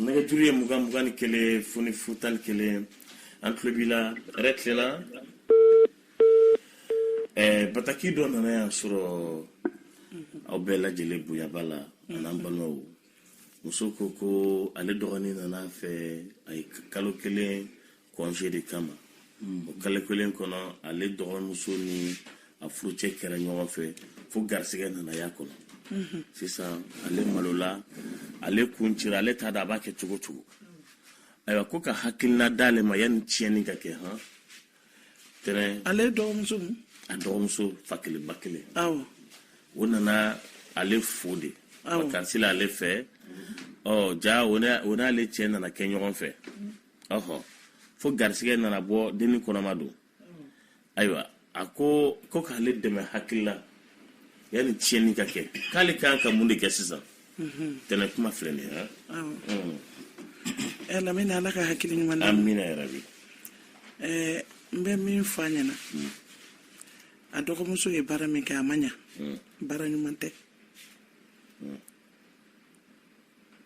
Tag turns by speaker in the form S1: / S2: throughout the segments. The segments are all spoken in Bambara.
S1: nɛgɛjuru ye mugan mugan ni kelen fu ni fu tan ni kelen an tulo b'i la hɛrɛ tilenna ɛɛ bataki dɔ nana y'an sɔrɔ aw bɛɛ lajɛlen bonyaba la an'an balimamuso ko ko ale dɔgɔnin nana a fɛ a ye kalo kelen congé de kama o kalo kelen kɔnɔ ale dɔgɔmuso ni a furucɛ kɛra ɲɔgɔn fɛ fo garisɛgɛ nana y'a kɔnɔ sisan ale malola ale kun cira ale t'a dɔn a b'a kɛ cogo cogo ayiwa ko ka hakilina d'ale ma yanni tiɲɛni ka kɛ han tɛnɛ ale dɔgɔmuso a dɔgɔmuso fa kelen ba kelen awɔ o nana ale fo de vacances la ale fɛ ɔ ja o n'ale cɛ nana kɛ ɲɔgɔn fɛ ɔhɔ fo garisɛgɛ nana bɔ denni kɔnɔma don ayiwa a ko ko k'ale dɛmɛ hakilila yanni tiɲɛni ka kɛ k'ale kan ka mun de kɛ sisan mhm. tɛnɛ kuma filɛ nin ye mm. eh, lamini ala ka hakili ɲuman na amiina yarabi eh, n bɛ min fɔ a ɲɛna mm. a dɔgɔmuso ye baara min kɛ a ma ɲa mm. baara ɲuman tɛ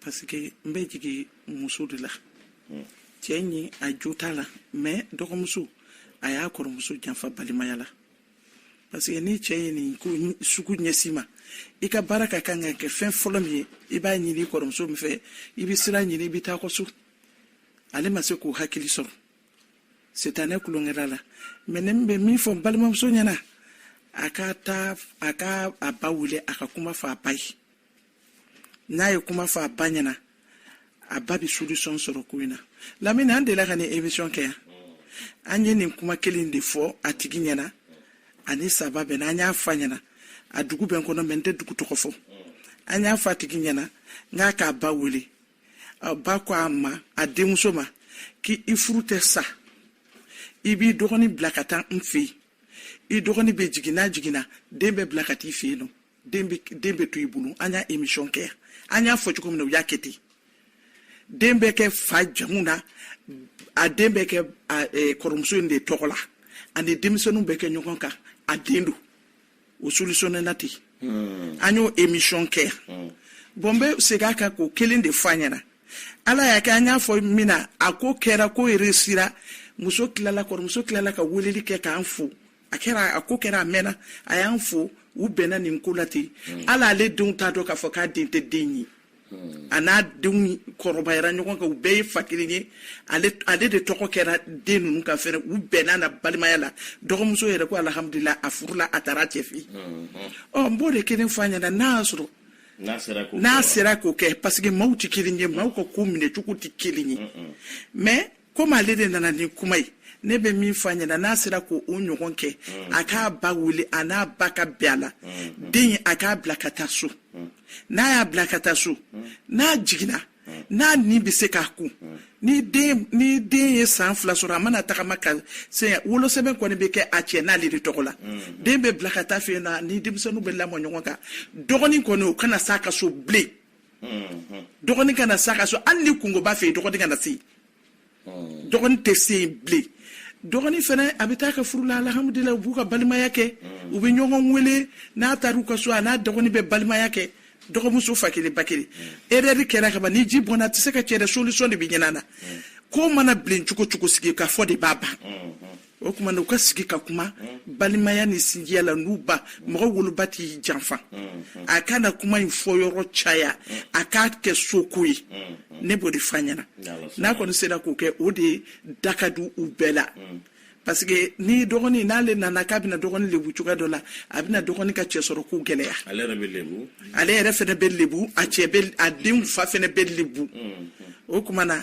S1: parce que n bɛ jigin muso de la cɛ in a jo t'a la mais dɔgɔmuso a y'a kɔrɔmuso janfa balimaya la parce que ni cɛ ye nin ko sugu ɲɛsin ma i ka baara ka kan ka kɛ fɛn fɔlɔ min ye i b'a ɲini i kɔrɔmuso in fɛ i bɛ sira ɲini i bɛ taa kɔ so ale ma se k'o hakili sɔrɔ sitanɛ tulonkɛla la mais ne bɛ min fɔ n balimamuso ɲɛna a ka taa a ka a ba wele a ka kuma fɔ a ba ye n'a ye kuma fɔ a ba ɲɛna a ba bɛ solution sɔrɔ ko in na lamini an delila ka nin émission kɛ yan an ye nin kuma kelen de fɔ a tigi ɲɛna ani saba bɛn an y'a fɔ a ɲɛna a dugu bɛ n kɔnɔ mais n tɛ dugu tɔgɔ fɔ an y'a fɔ a tigi ɲɛna n k'a k'a ba wele a ba ko a ma a denmuso ma k'i furu tɛ sa i b'i dɔgɔnin bila ka taa n fɛ yen i dɔgɔnin bɛ jigin n'a jiginna den bɛ bila ka t'i fɛ yen nɔ den bɛ den bɛ to i bolo an y'a émission kɛ an y'a fɔ cogo min na u y'a kɛ ten den bɛ kɛ fa jamu na a den bɛ kɛ kɔrɔmuso in de tɔgɔ la ani denmisɛnninw bɛ kɛ ɲɔgɔn kan a den don o solutionné la ten hmm. an y'o émission kɛ hmm. bon n bɛ segin a kan k'o kelen de fɔ a ɲɛna ala y'a kɛ an y'a fɔ min na a ko kɛra ko réussira muso tilala kɔrɔmuso tilala ka weleli kɛ k'an fo a kɛra a ko kɛra a mɛnna a y'an fo u bɛnna nin ko la ten hmm. ala ale denw t'a dɔn k'a fɔ k'a den tɛ den ye hmm. a n'a denw kɔrɔbayara ɲɔgɔn kan u bɛɛ ye fa kelen ye ale de tɔgɔ kɛra den ninnu kan fɛnɛ u bɛɛ nana balimaya la dɔgɔmuso yɛrɛ ko alhamdulila a furula a taara cɛ fɛ hmm, hmm. ɔ n b'o de kelen fɔ a ɲɛna n'a y'a sɔrɔ n'a sera k'o kɛ parce que maaw tɛ kelen ye maaw ka ko minɛ cogo tɛ kelen ye mais komi ale de nana ni kuma ye ne bɛ min fɔ a ɲɛna n'a sera k'o ɲɔgɔn kɛ mm. a k'a ba wele a n'a ba ka bɛn a la mm. den a k'a bila ka taa so mm. n'a y'a bila ka taa so n'a jiginna n'a ni bɛ se k'a kun ni den ni den ye san fila sɔrɔ a mana tagama ka se wolosɛbɛn kɔni bɛ kɛ a cɛ n'ale de tɔgɔ la den bɛ bila ka taa a fɛ yen a ni denmisɛnninw bɛ lamɔ ɲɔgɔn kan dɔgɔnin kɔni o kana s'a ka so bilen dɔgɔnin kana s'a ka so hali ni kunko b'a fɛ yen dɔgɔnin kana se yen dɔgɔnin tɛ se yen bilen dɔgɔnin fana a bɛ taa a ka furu la alhamudulila u b'u ka balimaya kɛ u bɛ ɲɔgɔn wele n'a taara u ka so a n'a dɔgɔnin bɛ balimaya kɛ dɔgɔmuso fa kelen ba kelen erreur kɛra kaban ni ji bɔnna a tɛ se ka cɛ dɛ solution de bɛ ɲini a na ko mana bilen cogo o cogo sigi ka fɔ de b'a ban o tuma na u ka sigi ka kuma balimaya ni sinjiya la n'u ba mɔgɔ woloba t'i janfa a kana kuma in fɔ yɔrɔ caya a k'a kɛ soko ye ne b'o de fɔ a ɲɛna n'a kɔni sera k'o kɛ o de da ka di u bɛɛ la parce que ni dɔgɔnin n'ale nana k'a bɛna dɔgɔnin lebu cogoya dɔ la a bɛna dɔgɔnin ka cɛ sɔrɔ ko gɛlɛya ale yɛrɛ fɛnɛ bɛ lebu a cɛ a denw fa fɛnɛ bɛ lebu o kuma na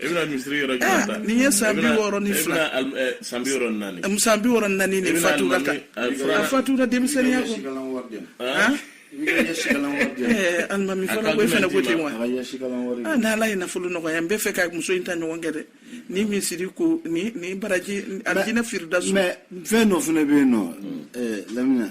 S1: e bɛna misiri yɔrɔ jumɛn ah, ta nin ye san bi wɔɔrɔ ni fila san bi wɔɔrɔ ni naani eh, san bi wɔɔrɔ ni naani de fatura kan a fatura denmisɛnninya kɔ alimami fana ko e fana ko ten wa ah, n'ala ye nafolo nɔgɔya n b'a fɛ ka muso in ta ɲɔgɔn kɛ dɛ ni misiri ko ni ni baraji alijinɛ firidawsi fɛn dɔ fana bɛ yen nɔ eh, lamini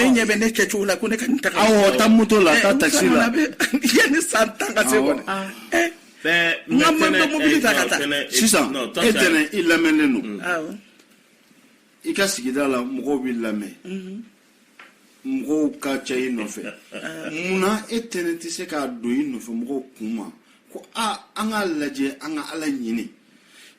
S1: e ɲɛ bɛ ne kɛ cogo la ko ne ka ta taa moto la taa ta la ni san tan ka se kɔni n'an ma mobili ta ka taa sisan e tɛnɛn i lamɛnnen don mm. i ka sigida la mɔgɔw b'i lamɛn mm-hmm. mɔgɔw ka ca i nɔfɛ munna e tɛnɛn tɛ se k'a don i nɔfɛ mɔgɔw kun ma ko a an k'a lajɛ an k'a laɲini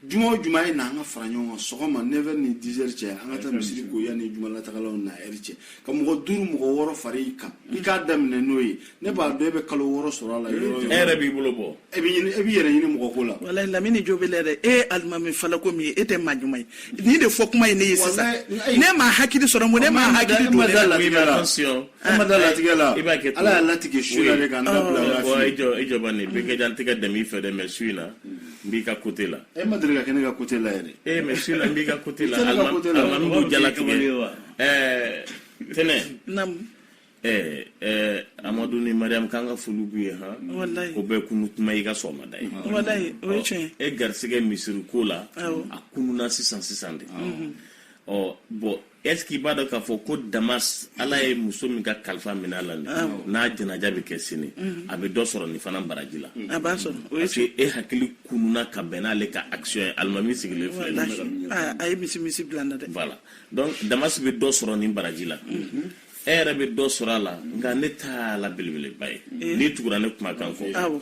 S1: juma o juma a ye na an ka fara ɲɔgɔn kan sɔgɔma 9 ni 10 heures cɛ an ka taa misiri ko yanni jumalatagalaw na heure cɛ ka mɔgɔ duuru mɔgɔ wɔɔrɔ fara i kan i k'a daminɛ n'o ye ne b'a dɔn e bɛ kalo wɔɔrɔ sɔrɔ a la yɔrɔ yɔrɔ e yɛrɛ b'i bolo bɔ e bɛ ɲini e b'i yɛrɛ ɲini mɔgɔ ko la walayi lamini jo b'e la dɛ e ye alimami falako min ye e tɛ maa ɲuman ye nin de fɔ kuma ye ne ye sisan ne ma hakili sɔrɔ n ko ne ma hakili don ne la latigɛ la e ma da latigɛ la ala y'a latigɛ su la de ka n dabila o la fili. i jɔ i jɔ bani bɛɛ kɛ jan tɛgɛ dɛmɛ i fɛ dɛ mɛ su in na n b'i ka kote la e ma deli ka kɛ ne ka kote la yɛrɛ ee mais sinon n b'i ka kote la alimami b'u jalatigɛ ɛɛ tɛnɛ ɛɛ ɛɛ amadu ni mariyamu k'an ka foli b'u ye han o bɛɛ kunu kuma i ka sɔgɔmada ye walayi o ye tiɲɛ e garisigɛ misiri ko la a kununa sisan sisan de ɔ bɔn Est-ce qu'il b'a dɔn k'a fɔ ko Damas Ala ye muso min ka kalifa minɛ a la nin awɔ n'a janaja bɛ kɛ sini mhm. a bɛ dɔ sɔrɔ nin fana baraji la a b'a sɔrɔ parce que e hakili kununa ka bɛn n'ale ka action ye alimami sigilen filɛ nin ye ah, a ye misi misi bila n na dɛ voilà donc Damas bɛ dɔ sɔrɔ nin baraji la mhm. e yɛrɛ bɛ dɔ sɔrɔ a la nka ne ta la belebeleba ye eh. n'i tugura ne kumakan kɔ awɔ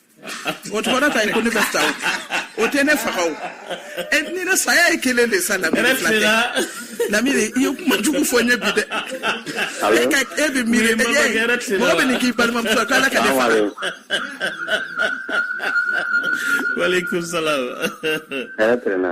S1: o kɔrɔ t'a ye ko ne bɛ sa o tɛ ne faga o e ni ne saya ye kelen de sa lamini fila tɛ lamini i ye kuma jugu fɔ ne bi dɛ e ka e bɛ miiri e ye mɔgɔ bɛ nin k'i balimamuso ye k'ala ka ne faga. Waaleykum salaam. Hɛrɛ tilenna.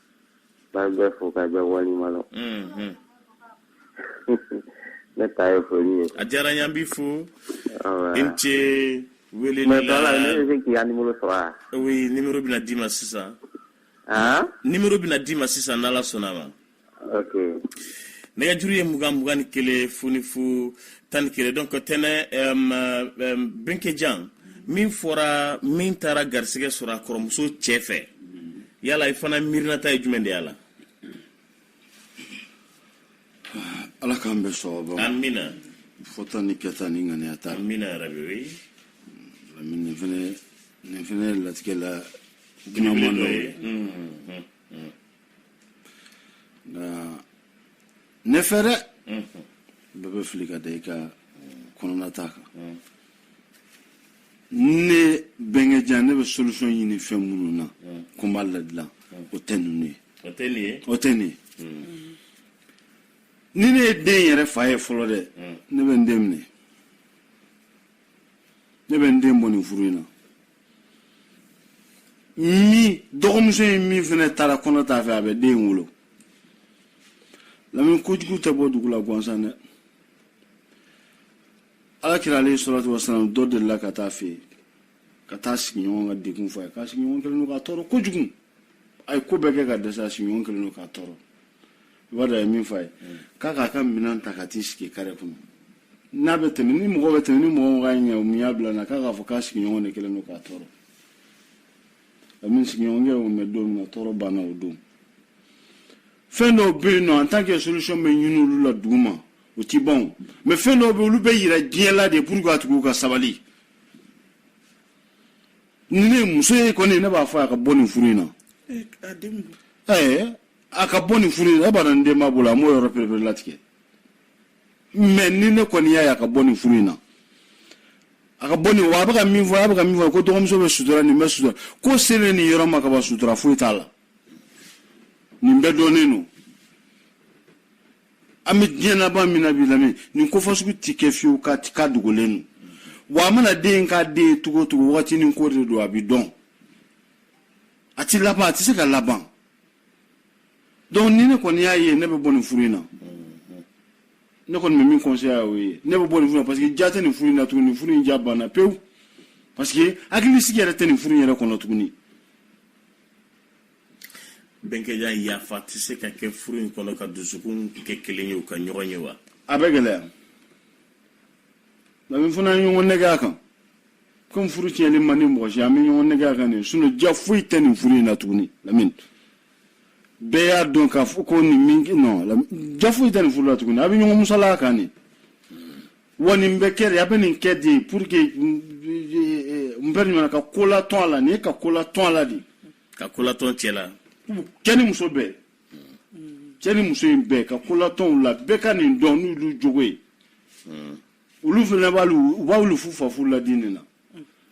S1: B'a bɛɛ fo ka bɛɛ walima la ne ta ye foli ye a diyara yan bi fo i ce wele bɛ kɛ yan numéro bɛna d'i ma sisan numéro bɛna d'i ma sisan n'ala sɔnna a ma nɛgɛjuru ye mugan mugan ni kelen fu ni fu tan ni kelen donc tɛnɛ bɛnkɛjan min fɔra min taara garisɛgɛ sɔrɔ a kɔrɔmuso cɛ fɛ yala i fana miirinata ye jumɛn de y'a la ala k'an bɛɛ sɔgɔba amina fɔta ni kɛta ni ŋaniyata amina yarabi o ye nin fɛnɛ nin fɛnɛ ye latigɛ la dunanman dɔ ye nka ne fɛ dɛ bɛɛ bɛ fili ka da i ka kɔnɔnata kan ne bɛnkɛjan ne bɛ solution ɲini fɛn minnu na ko n b'a ladilan o tɛ ninnu ye o tɛ nin ye o tɛ nin ye ni ne ye den yɛrɛ fa ye fɔlɔ dɛ ne bɛ n den minɛ ne bɛ n den bɔ nin furu in na min dɔgɔmuso ye min fana taara kɔnɔ ta a fɛ a bɛ den wolo lamini kojugu tɛ bɔ dugu la gansan dɛ ala kira alayihi salatu wasalam dɔ delila ka taa a fɛ yen ka taa sigiɲɔgɔn ka degun fɔ a ye k'a sigiɲɔgɔn kɛlen don k'a tɔɔrɔ kojugu a ye ko bɛɛ kɛ ka dɛsɛ a sigiɲɔgɔn kɛlen don k'a tɔɔrɔ i b'a dɔn a ye min fɔ a ye k'a k'a ka minɛn ta ka t'i sigi kare kɔnɔ n'a bɛ tɛmɛ ni mɔgɔ bɛ tɛmɛ ni mɔgɔ mɔgɔ y'a ɲininka mun y'a bila na k'a k'a fɔ k'a sigiɲɔgɔn de kɛlen don k'a tɔɔrɔ a min sigiɲɔgɔn kɛ y'o mɛn don min na tɔɔrɔ banna o don fɛn dɔw bɛ yen nɔ en tant que solution bɛ ɲini olu la duguma o ti ban mais fɛn dɔw be olu be yira diɲɛ la de pour ka tugu ka sabali ni ne muso ye kɔni ne b'a fɔ a ka bɔ nin furu in na ɛɛ a ka bɔ nin furu in na e b'a dɔn ni den b'a bolo a m'o yɔrɔ pereperelatigɛ mais ni ne kɔni y'a ye a ka bɔ nin furu in na a ka bɔ nin wa a bɛ ka min fɔ a bɛ ka min fɔ ko dɔgɔmuso bɛ sutura nin bɛ sutura ko selen nin yɔrɔ ma ka ban sutura foyi t'a la nin bɛɛ dɔnnen don an bɛ diɲɛ laban min na bi lamɛn nin ko fasugu tɛ kɛ fiyewu k'a ti k'a dogolen don wa a mana den k'a den ye cogo o cogo wagati ni ko de don a bɛ dɔn a ti laban a tɛ se ka laban donc ni ne kɔni y'a ye ne bɛ bɔ nin furu in na ne kɔni bɛ min conseil a y'o ye ne bɛ bɔ nin furu in na parce que ja tɛ nin furu in na tuguni nin furu in ja banna pewu parce que hakilisigi yɛrɛ tɛ nin furu in yɛrɛ kɔnɔ tuguni bɛnkɛja yafa tɛ se ka kɛ furu in kɔnɔ ka dusukun kɛ kelen ye u ka ɲɔgɔn ye wa a bɛ gɛlɛya lamini fana ye ɲɔgɔn nɛgɛn a kan comme furu tiɲɛni man di mɔgɔ si an bɛ ɲɔgɔn nɛgɛn a kan de sinon ja foyi tɛ nin furu in na tuguni lamini bɛɛ y'a dɔn k'a fɔ ko nin min nɔn ja foyi tɛ nin furu la tuguni a bɛ ɲɔgɔn musalaka a kan de wa nin bɛ kɛ de a bɛ nin kɛ de pour que n bɛ ɲuman ka ko latɔn a la nin ye ka ko latɔn a la de ka ko latɔn cɛ la cɛ ni muso bɛɛ cɛ ni muso in bɛɛ ka ko latɔn u la bɛɛ ka nin dɔn n'olu jogo ye olu fana balo u balo fu sa fu la de nin na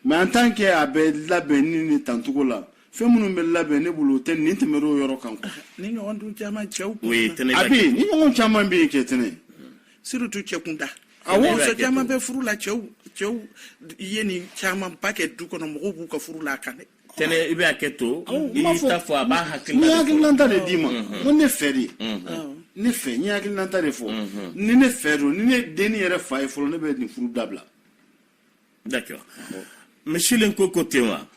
S1: mais en tant que a bɛ labɛn ni nin tan cogo la fɛn minnu bɛ labɛn ne bolo o tɛ nin tɛmɛrɛ o yɔrɔ kan nin ɲɔgɔn dun caman cɛw kun a bɛ yen nin ɲɔgɔn caman bɛ yen kɛ tɛnɛ surtout cɛ kunda awɔ muso caman bɛ furu la cɛw cɛw ye nin camanba kɛ du kɔnɔ mɔgɔw b'u ka furu la a kan dɛ tɛnɛ i bɛ hakɛ to i y'i ta fɔ a b'a hakilina de fɔ. n ye hakilinanta de d'i ma n ko ne fɛ de ne fɛ n ye hakilinanta de fɔ ni ne fɛ don ni ne dennin yɛrɛ fa ye fɔlɔ ne bɛ nin furu dabila. d'accord monsieur lenko ko ten wa.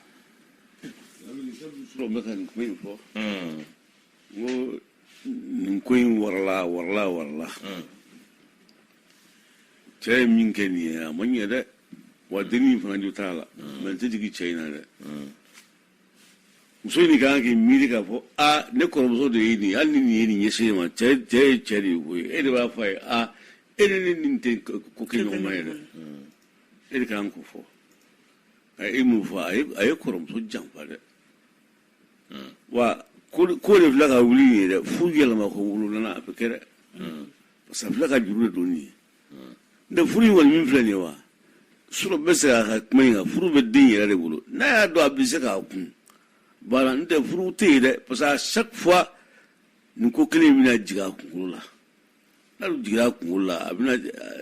S1: sɔrɔ bɛ ka nin ko in fɔ. n ko nin ko in warala warala warala. cɛ ye min kɛ nin ye a ma ɲɛ dɛ. wa dennin fana jo t'a la mais n tɛ jigin cɛ in na dɛ muso in kan k'i miiri k'a fɔ a ne kɔrɔmuso de ye nin hali ni nin ye nin ɲɛsin ne ma cɛ ye cɛ de ye koyi e de b'a fɔ a ye a e ni ne nin tɛ ko kɛ ɲɔgɔn ma ye dɛ e de kan k'o fɔ a ye e m'o fɔ a ye kɔrɔmuso janfa dɛ wa ko de filɛ ka wuli in ye dɛ fo yɛlɛma ko wolonana a bɛ kɛ dɛ parce que a fila ka juru de don nin ye furu in kɔni min filɛ nin ye wa sɔrɔ bɛ se k'a ka kuma in kan furu bɛ den yɛrɛ de bolo n'a y'a dɔn a bɛ se k'a kun bala n tɛ furu tɛ yen dɛ parce que à chaque fois nin ko kelen in bɛna jigin a kunkolo la n'a dun jiginna a kunkolo la a bɛna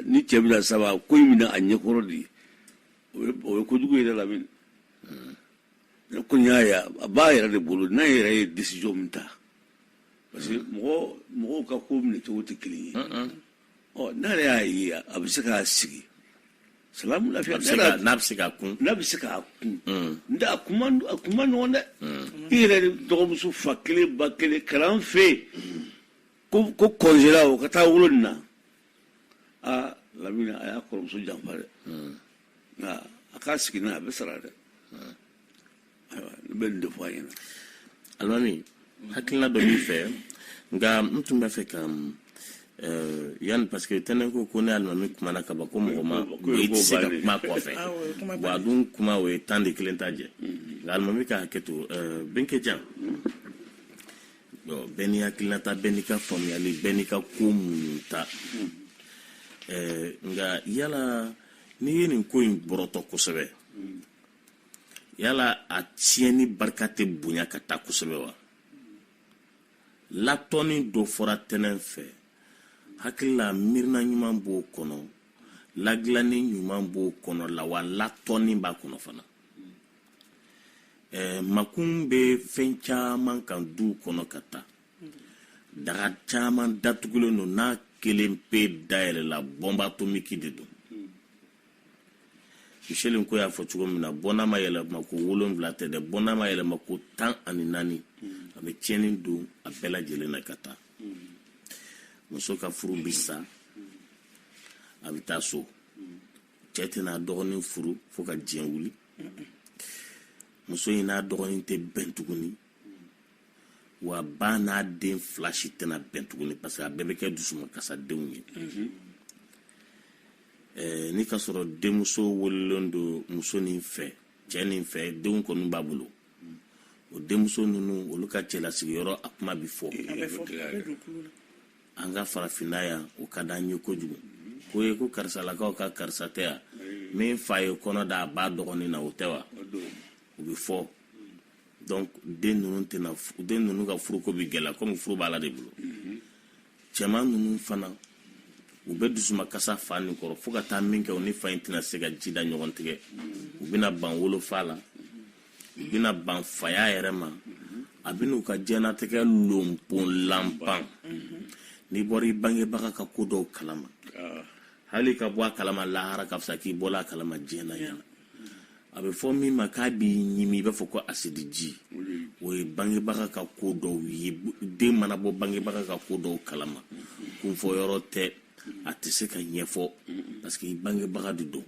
S1: ni cɛ bɛna saba ko in bɛ na a ɲɛkɔrɔ de o ye o ye kojugu ye dɛ lamini ne kɔni y'a ye a b'a yɛrɛ de bolo n'a yɛrɛ ye décision min ta parce que mɔgɔ mɔgɔw ka ko minɛ cogo tɛ kelen ye. ɔ ne yɛrɛ y'a ye a bɛ se k'a sigi salamu lafiya n'a bɛ se k'a kun n'a bɛ se k'a kun n tɛ a kun man a kun man nɔgɔn dɛ i yɛrɛ de dɔgɔmuso fa kelen ba kelen kalan fɛ yen ko ko congé la o ka taa wolo nin na aa lamini a y'a kɔrɔmuso janfa dɛ nka a k'a sigi n'a a bɛ sara dɛ bɛ nin de fɔ a ɲɛ na alimami hakilina dɔ b'i fɛ nka n tun b'a fɛ ka yanni parce que tɛnɛn ko ko ni alimami kumana ka ban ko mɔgɔ ma i tɛ se ka kuma kɔfɛ wa a dun kuma o ye tan de kelen ta jɛ nka alimami ka hakɛ to bɛnkɛ jan bɛɛ n'i hakilinata bɛɛ n'i ka faamuyali bɛɛ n'i ka ko minnu ta nka yala n'i ye nin ko in bɔrɔtɔ kosɛbɛ yala a tiɲɛni barika tɛ bonya ka taa kosɛbɛ wa latɔnni dɔ fɔra tɛnɛn fɛ hakilila miirina ɲuman b'o kɔnɔ ladilanni ɲuman b'o kɔnɔ la wa latɔnni b'a kɔnɔ fana ɛɛ makun bɛ fɛn caman kan duw kɔnɔ ka taa daga caman datugulen don n'a kelen pe dayɛlɛla bombe atomique de don michel ko y'a fɔ cogo min na bɔnna ma yɛlɛma ko wolonwula tɛ dɛ bɔnna ma yɛlɛma ko tan ani naani a bɛ tiɲɛni don a bɛɛ lajɛlen na ka taa muso ka furu bɛ sa a bɛ taa so cɛ tɛn'a dɔgɔnin furu fo ka diɲɛ wuli muso in n'a dɔgɔnin tɛ bɛn tuguni wa ba n'a den fila si tɛna bɛn tuguni parce que a bɛɛ bɛ kɛ dusumankasadenw ye mhm. eh, ni ka sɔrɔ denmuso wololen don muso nin fɛ cɛ nin fɛ denw kɔni b'a bolo o denmuso ninnu olu ka cɛlasigiyɔrɔ a kuma bɛ fɔ an ka farafinna yan o ka d'an ye kojugu ko ye ko karisalakaw ka karisa tɛ yan min fa ye kɔnɔ da a ba dɔgɔnin na o tɛ wa o bɛ fɔ donc den ninnu tɛna den ninnu ka furuko bɛ gɛlɛya komi furu b'ala de bolo cɛman ninnu fana u bɛ dusumakasi fa nin kɔrɔ fo ka taa min kɛ u ni fa in tɛna se ka ji da ɲɔgɔn tigɛ u bɛna ban wolofa la u bɛna ban faya yɛrɛ ma a bɛ n'u ka diɲɛnatigɛ lonponlanban n'i bɔra i bangebaga ka ko dɔw kalama ah. hali ka bɔ a kalama lahara ka fisa k'i bɔla a kalama diɲɛ na yan a bɛ fɔ min ma k'a b'i ɲimi i b'a fɔ ko asidiji o ye bangebaga ka ko dɔw ye den mana bɔ bangebaga ka ko dɔw kalama kunfɔ yɔrɔ tɛ a tɛ se ka ɲɛfɔ parce que bangebaga de don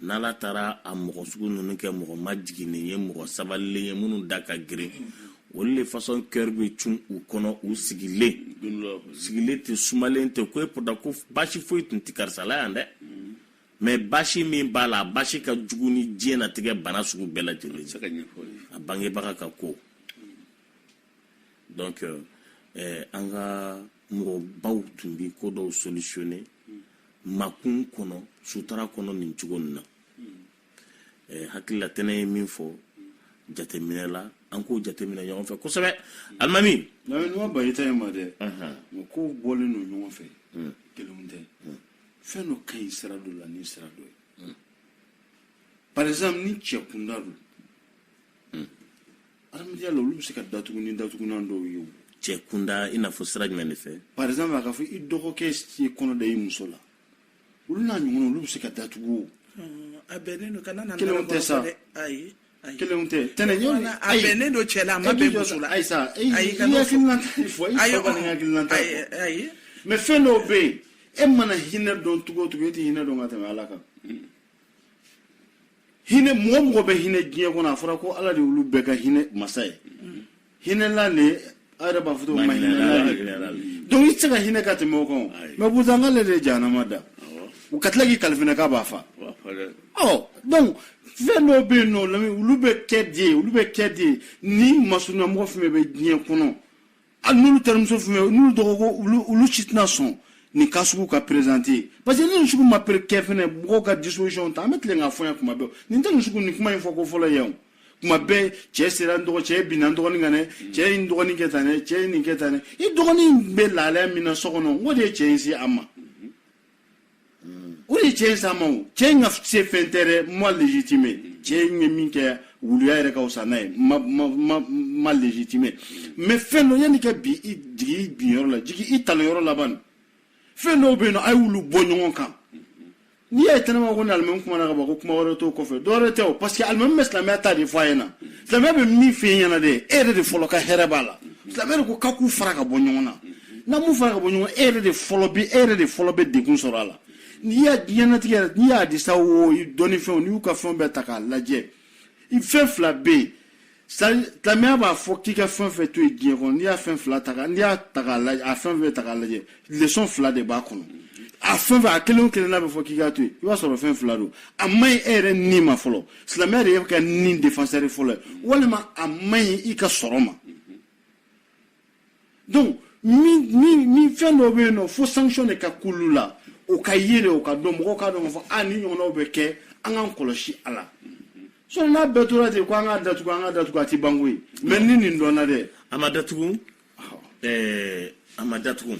S1: n'ala taara a mɔgɔ sugu ninnu kɛ mɔgɔ majiginnen ye mɔgɔ sabalilen ye minnu da ka girin olu de fasɔn kɛri bɛ cun u kɔnɔ u sigilen sigilen tɛ sumalen tɛ ko e pourtant ko baasi foyi tun tɛ karisa la yan dɛ mɛ baasi min b'a la baasi ka jugu ni diɲɛnatigɛ bana sugu bɛɛ lajɛlen a bangebaga ka ko donc euh, eh, an ka mɔgɔbaw tun bi ko dɔw solutionne makun kɔnɔ sutura kɔnɔ nin cogo nin na eh, hakilila tɛnɛ ye min fɔ jateminɛ la an k'o jateminɛ ɲɔgɔn fɛ kosɛbɛ alimami nɔgɔ bayita ye ma dɛ mɛ kow bɔlen don ɲɔgɔn fɛ kelenw tɛ fɛn dɔ ka ɲi sira dɔ la ni sira dɔ ye hmm. par exemple ni cɛ kunda don hmm. adamadenya la olu bɛ se ka datugu ni datugunan dɔw ye o cɛ kunda i n'a fɔ sira jumɛn de fɛ par exemple a ka fɔ i dɔgɔkɛ ye kɔnɔ da i muso la olu n'a ɲɔgɔnna olu bɛ se ka datugu o hmm, a bɛnnen don ka na na kelenw tɛ sa ayi Kelen tɛ t a ye ne don cɛ la a ma bɛ jɔ la ayi ayi mɛ fɛn dɔw bɛ yen e mana hinɛ dɔn cogo cogo e tɛ hinɛ dɔn ka tɛmɛ ala kan hinɛ mɔgɔ mɔgɔ bɛ hinɛ diɲɛ kɔnɔ a fɔra ko ala de olu bɛɛ ka hinɛ masa ye hinɛla le a yɛrɛ b'a fɔ cogo min na hinɛla le hinɛla le. donc i tɛ se ka hinɛ ka tɛmɛ o kan o Ayi. mɛ pourtant ale de ye jahanama da Awɔ. u ka tila k'i kali fɛnɛ k'a b'a fa Wa fa dɛ. ɔ donc fɛn dɔw bɛ yen nɔ lami olu bɛ kɛ de olu bɛ kɛ de ni masurunyamɔgɔ fɛn fɛn bɛ diɲɛ kɔnɔ hali n'olu terimuso fɛn fɛn n'olu dɔgɔ ko olu olu si tɛna sɔn nin ko sugu ka perezante parce que ni nin sugu ma pere kɛ fɛnɛ mɔgɔw ka disposition ta an bɛ tilen k'a fɔ yan kuma bɛɛ nin tɛ nin sugu nin kuma in fɔko fɔlɔ yan o kuma bɛɛ cɛ sera dɔgɔ cɛ ye binna dɔgɔnin kan dɛ cɛ ye dɔgɔnin kɛ tan dɛ cɛ ye nin kɛ tan dɛ i dɔgɔnin bɛ lahalaya min na so kɔnɔ o de ye cɛ in se a ma o de ye cɛ in se a ma o cɛ in ka se fɛn tɛ dɛ ma legitime cɛ in ye min kɛ wuluya yɛrɛ ka wusa n'a ye ma ma ma ma legitime mɛ fɛn dɔ yanni ka bi i jigi i binyɔrɔ la jigi i talonyɔrɔ la ban fɛn dɔw bɛ yen nɔ a ye olu bɔ ɲɔgɔn kan n'i y'a ye tɛnɛma ko ni alimami kumana ka ban ko kuma wɛrɛ t'o kɔfɛ dɔ wɛrɛ tɛ o parce que alimami bɛ silamɛya ta de fɔ a ɲɛna silamɛya bɛ min fɛ yen ɲɛna de e yɛrɛ de fɔlɔ ka hɛrɛ b'a la silamɛya de ko ka k'u fara ka bɔ ɲɔgɔn na n'a m'u fara ka bɔ ɲɔgɔn e yɛrɛ de fɔlɔ bɛ e yɛrɛ de fɔlɔ bɛ degun sɔrɔ a la n'i y'a diɲɛnatigɛ yɛrɛ n'i y'a disa wo dɔnnifɛnw n'i y'u ka fɛnw bɛɛ ta k'a lajɛ i fɛn fila bɛ yen silamɛya b'a fɔ k'i ka fɛn fɛn to yen diɲɛ kɔnɔ n'i y'a fɛn fila ta n'i y'a ta k'a lajɛ a fɛn fɛn ta k'a lajɛ leçon fila de b'a kɔnɔ a fɛn fɛn a kelen o kelen n'a bɛ fɔ k'i k'a to yen i b'a sɔrɔ fɛn fila don a ma ɲi e yɛrɛ ni ma fɔlɔ silamɛya de y'i ka ni défenseur fɔlɔ ye walima a ma ɲi i ka sɔrɔ ma donc min min min fɛn dɔ bɛ yen non fo sanction de ka k'olu la o ka ye de o ka dɔn mɔgɔw k'a dɔn k'a fɔ a nin ɲɔgɔnnaw bɛ kɛ an k'an kɔlɔsi a la sinon n'a bɛɛ tora ten ko an k'a datugu an k'a datugu a tɛ ban koyi mais ni nin dɔnna dɛ a ma datugu ɛɛ a ma datugu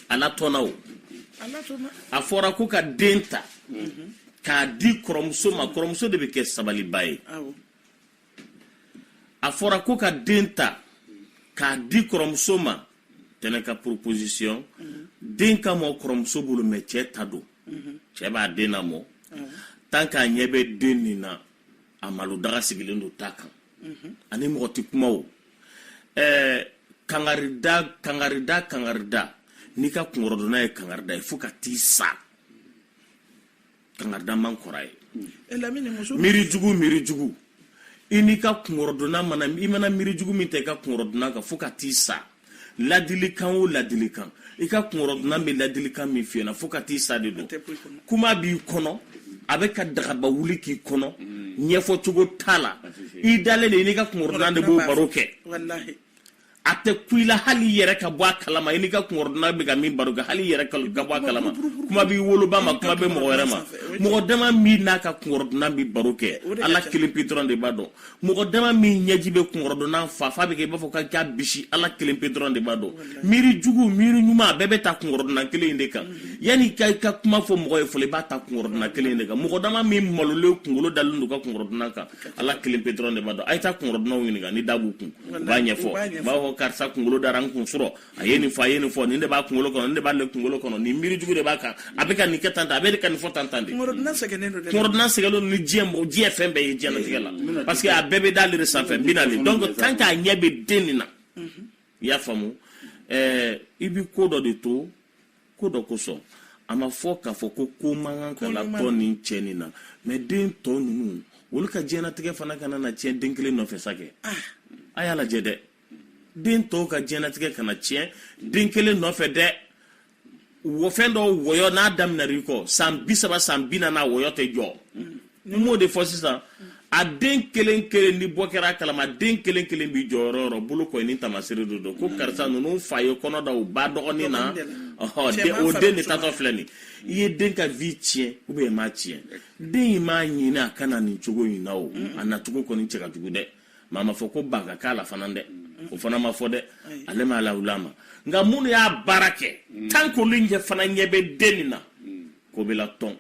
S1: a n'a dɔnna o a fɔra ko ka den ta k'a di kɔrɔmuso ma kɔrɔmuso de bɛ kɛ sabalibaa ye a fɔra ko ka den ta k'a di kɔrɔmuso ma tɛnɛ ka proposition den ka mɔ kɔrɔmuso bolo mais cɛ ta don cɛ b'a den namɔ tant k'a ɲɛ bɛ den nin na a malo daga sigilen don ta kan ani mɔgɔ tɛ kuma o ɛɛ kangarida kangarida kangarida n'i ka kungɔrɔdonna ye kangarida ye fo ka t'i sa kangarida min kɔrɔ ye eh, miiri jugu miiri jugu i n'i ka kungɔrɔdonna mana i mana miiri jugu min ta i ka kungɔrɔdonna kan fo ka t'i sa ladilikan o ladilikan i ka kungɔrɔdonna bɛ ladilikan min f'i ɲɛna fo ka t'i sa de don kuma b'i kɔnɔ a bɛ ka dagaba wuli k'i kɔnɔ mm. ɲɛfɔ cogo t'a la i dalen de i n'i ka kungɔrɔdonna de b'o baro kɛ a tɛ kun i la hali i yɛrɛ ka bɔ a kalama i n'i ka kungɔrɔdonna bɛ ka min baro kɛ hali i yɛrɛ ka bɔ a kalama kuma t'i woloba ma kuma tɛ mɔgɔ wɛrɛ ma mɔgɔ dama min n'a ka kungɔrɔdonna bi baro kɛ ala kelen pe dɔrɔn de b'a dɔn mɔgɔ dama min ɲɛji bɛ kungɔrɔdonna fa fa bɛ kɛ i b'a fɔ ka k'a bisi ala kelen pe dɔrɔn de b'a dɔn miiri jugu miiri ɲuman a bɛɛ bɛ ta kungɔrɔdonna kelen de kan yanni ka i ka kuma fɔ mɔgɔ ye fɔlɔ i b'a ta kungɔrɔdonna kelen de kan mɔgɔ dama min malolen kunkolo dalen don a ka kungɔrɔdonna kan ala kelen pe dɔrɔn de b'a dɔn a ye taa kungɔrɔdonnaw ɲininka ni da b'u kun u b'a ɲɛfɔ u b'a fɔ karisa kunkolo dara n kan surɔ a ye nin fɔ a ye nin fɔ nin de b'a kunkolo kɔnɔ nin de b'ale kunkolo kɔnɔ nin miiri jugu de b'a kan a bɛ ka nin kɛ tan tan a bɛ ka nin fɔ tan tan de kungɔrɔdonna sɛgɛnnen don dɛ kungɔrɔdonna sɛgɛnnen don ni diɲɛ mɔgɔ diɲɛ fɛn bɛɛ ye diɲɛlatigɛ la eh, parce que a bɛɛ bɛ d'ale de sanfɛ bi naani donc tant k'a ɲɛ bɛ den nin na mhm. i y'a faamu ɛɛ eh, i bɛ ko dɔ de to ko dɔ kosɔn a ma fɔ k'a fɔ ko ko man kan ka latɔn nin cɛ nin na mais den tɔ ninnu olu ka diɲɛnatigɛ fana kana na tiɲɛ den kelen nɔfɛ sa kɛ ah. a y'a lajɛ dɛ den tɔw ka diɲɛnatigɛ kana tiɲɛ den kelen nɔfɛ dɛ o fɛn dɔw wɔyɔ n'a daminɛr'i kɔ san bi saba san bi naani a wɔyɔ tɛ jɔ mm. n b'o de fɔ sisan a den kelen kelen ni bɔ kɛra a kalama den kelen kelen b'i jɔ yɔrɔ o yɔrɔ bolokɔni ni tamasere de don ko karisa ninnu fa ye kɔnɔ da u ba dɔgɔnin na o den de taatɔ filɛ nin i ye den ka vie tiɲɛ u bɛ ma tiɲɛ den in m'a ɲini a ka na nin cogo in na o a nacogo kɔni cɛ ka jugu dɛ maa m'a fɔ ko ba ka k'a la fana dɛ o fana ma fɔ dɛ ale m'a lawuli a ma nka minnu y'a baara kɛ tan k'olu ɲɛ fana ɲɛ bɛ den nin na ko bɛ latɔn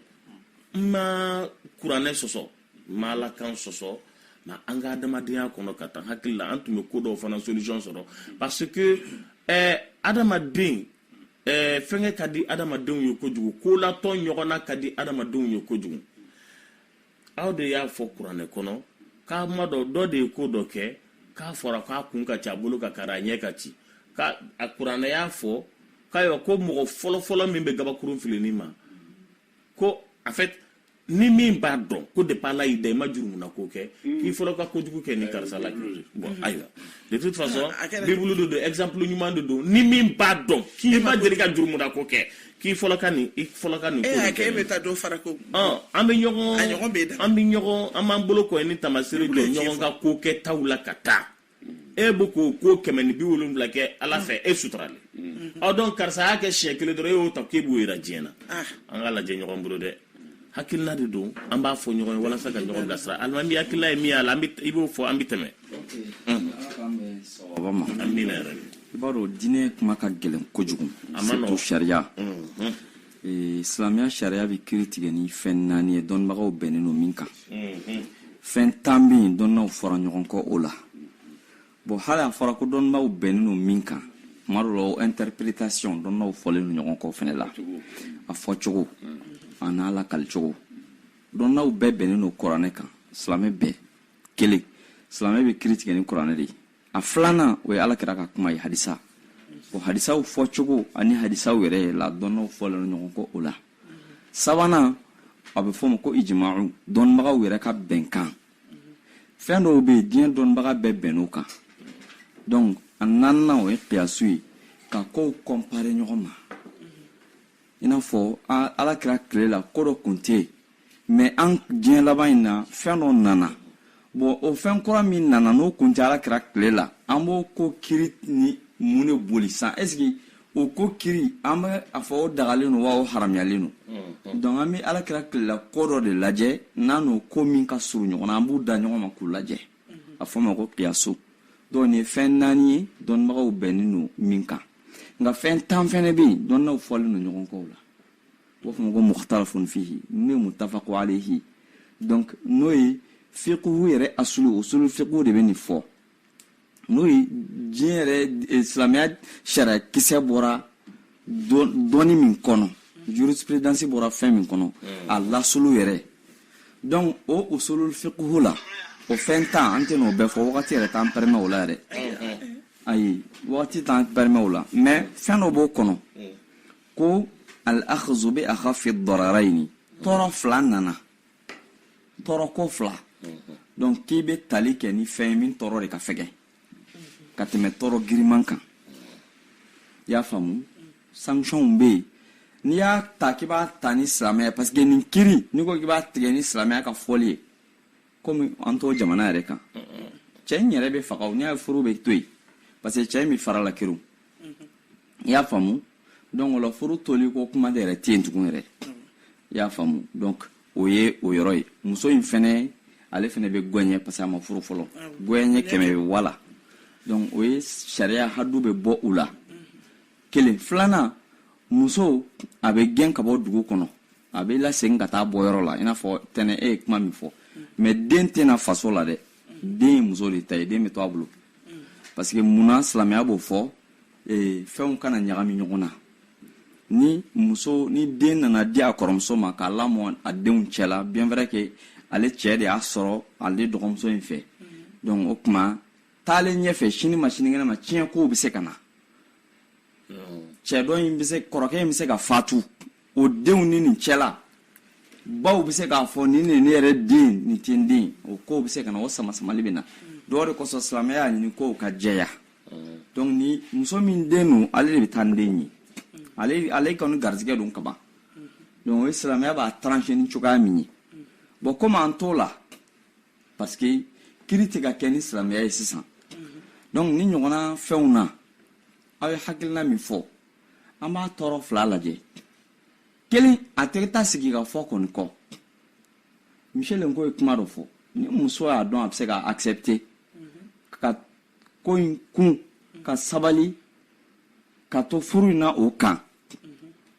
S1: n ma kuranɛ sɔsɔ n ma ala kan sɔsɔ mais an ka adamadenya kɔnɔ ka taa hakili la an tun bɛ ko dɔw fana solution sɔrɔ parce que eh, adamaden eh, fɛnkɛ ka di adamadenw ye kojugu ko latɔn ɲɔgɔn na ka di adamadenw ye kojugu aw de y'a fɔ kuranɛ kɔnɔ ko maa dɔ dɔ de ye ko dɔ kɛ k'a fɔra k'a kun ka ci a bolo ka kari a ɲɛ ka ci ka a kuranɛ y'a fɔ k'ayiwa ko mɔgɔ fɔlɔfɔlɔ min bɛ gabakurun fili nin ma ko en fait ni min b'a dɔn ko depuis ala y'i da i ma jurumuna ko kɛ hmm. k'i fɔlɔ ka kojugu kɛ nin karisa la hmm. bon hmm. ayiwa de toute façon ah, bibulu de don exemple ɲuman de don ni min b'a dɔn k'i ma deli ka jurumuna ko kɛ k'i fɔlɔ ka nin i fɔlɔ ka nin ko eh, kɛ e bɛ taa dɔ fara ko an bɛ ɲɔgɔn an bɛ ɲɔgɔn an b'an bolokɔni tamasere jɔ ɲɔgɔn ka kokɛtaw la ka taa e bɛ ko ko kɛmɛ ni bi wolonwula kɛ ala fɛ e suturalen don karisa y'a kɛ siɲɛ kelen dɔrɔn e y'o ta k'e b'o jira diɲɛ na ah. an k'a lajɛ ɲɔgɔn bolo dɛ hakilila de don an b'a fɔ ɲɔgɔn ye walasa ka ɲɔgɔn bilasira alimami hakilila ye min y'a la i b'o fɔ an bɛ tɛmɛ i b'a dɔn diinɛ kuma ka gɛlɛn kojugu surtout sariya ee, silamɛya sariya bɛ kiri tigɛ ni fɛn naani ye dɔnnibagaw bɛnnen don min kan mhm. fɛn tan bɛ yen dɔnnibaw fɔra ɲɔgɔn kɔ o la bon hali a fɔra ko dɔnnibaw bɛnnen don min kan tuma dɔ la o interpretation dɔnnibaw fɔlen don ɲɔgɔn kɔ fɛnɛ la a fɔcogo an'a lakalicogo dɔnnibaw bɛɛ bɛnnen don kuranɛ kan silamɛ bɛɛ kelen silamɛ bɛ kiri tigɛ ni kuranɛ de ye a filanan o ye alakira ka kuma ye hadisa o hadisaw fɔcogo ani hadisaw yɛrɛ ye ladɔnnaw fɔlen ɲɔgɔn kɔ o la sabanan a bɛ fɔ o ma ko ijimawu dɔnnibagaw yɛrɛ ka bɛnkan fɛn dɔw bɛ yen diɲɛ dɔnnibaga bɛɛ bɛnn'o kan donc a naaninan o ye kiyasu ye ka kow kɔnpare ɲɔgɔn ma i n'a fɔ alakira tile la ko dɔ kun tɛ yen mais an diɲɛ laban in na fɛn dɔ nana bon o fɛn kura min nana n'o kun tɛ ala kira tile la an b'o ko kiri ni mun de boli san est-ce que o ko kiri an bɛ a fɔ o dagalen don wa o haramuyalen don mm-hmm. donc an bɛ ala kira tile la ko dɔ de lajɛ n'a n'o ko min ka surun ɲɔgɔn na an b'u da ɲɔgɔn ma k'u lajɛ mm-hmm. a fɔ ma ko kiyasu donc nin ye fɛn naani ye dɔnnibagaw bɛnnen don min kan nka fɛn tan fɛnɛ bɛ yen dɔnnibaw fɔlen don ɲɔgɔn kɔ u la o fɔ ma ko mukhtalafun fihi n'o ye mutafaqu alayhi donc n'o ye fiqhu yɛrɛ asulu usulu fiqhu de bɛ nin fɔ n'o ye diinɛ yɛrɛ e, silamɛya sariya kisɛ bɔra dɔnni min kɔnɔ jurisprudence bɔra fɛn min kɔnɔ a lasili yɛrɛ donc o usulul fiqhu la o fɛn tan an tɛn'o bɛɛ fɔ wagati yɛrɛ t'an permet o la yɛrɛ ayi wagati t'an permet o la mais fɛn dɔ b'o kɔnɔ ko al akhzu bi akhafi dararaini tɔɔrɔ fila nana tɔɔrɔ ko fila donc k'i bɛ tali kɛ ni fɛn ye min tɔɔrɔ de ka fɛgɛn ka tɛmɛ tɔɔrɔ giriman kan i y'a faamu sanctionw bɛ yen n'i y'a ta k'i b'a ta ni silamɛya parce que nin kiri n'i ko k'i b'a tigɛ ni silamɛya ka fɔli ye komi an t'o jamana yɛrɛ kan cɛ in yɛrɛ bɛ faga o n'i y'a ye furu bɛ to yen parce que cɛ in bɛ fara la kiriw i y'a faamu donc o la furu toli ko kuma de yɛrɛ tɛ yen tugun yɛrɛ i y'a faamu donc o ye o yɔrɔ ye muso in fɛnɛ ale fɛnɛ bɛ gɛɲɛ parce que a ma furu fɔlɔ gɛɲɛ kɛmɛ bɛ wala donc o ye sariya hadu bɛ bɔ u la kelen filanan muso a bɛ gɛn ka bɔ dugu kɔnɔ a bɛ lasegin ka taa a bɔyɔrɔ la i n'a fɔ tɛnɛ e ye kuma min fɔ mais den tɛna faso la dɛ den ye muso de ta ye den bɛ to a bolo parce que mun na silamɛya b'o fɔ ee, fɛnw kana ɲagami ɲɔgɔn na ni muso nin den nana di a kɔrɔmuso ma k'a lamɔ a denw cɛla bien vrai que ale cɛɛ de y'a sɔrɔ ale dɔgɔmuso in fɛ donc o tuma taalen ɲɛfɛ sini ma sinikɛnɛ ma tiɲɛ kow bɛ se ka na cɛ dɔ in bɛ se kɔrɔkɛ in bɛ se ka fatu o denw ni nin cɛla baw bɛ se k'a fɔ nin nin ne yɛrɛ den nin tɛ n den o kow bɛ se ka na o samasamali bɛ na o de kosɔn silamɛya y'a ɲini kow ka jɛya donc ni muso min den don ale de bɛ taa ni den ye ale ale kɔni garizigɛ don kaban donc o ye silamɛya b'a trancher ni cogoya min ye bon komi an t'o la parce que kiri tɛ ka kɛ ni silamɛya ye sisan donc nin ɲɔgɔnna fɛnw na aw ye hakilina min fɔ an b'a tɔɔrɔ fila lajɛ kelen a tɛ taa sigi k'a fɔ kɔni kɔ michel nko ye kuma dɔ fɔ ni muso y'a dɔn a bɛ se ka accepter ka ko in kun ka sabali ka to furu in na o kan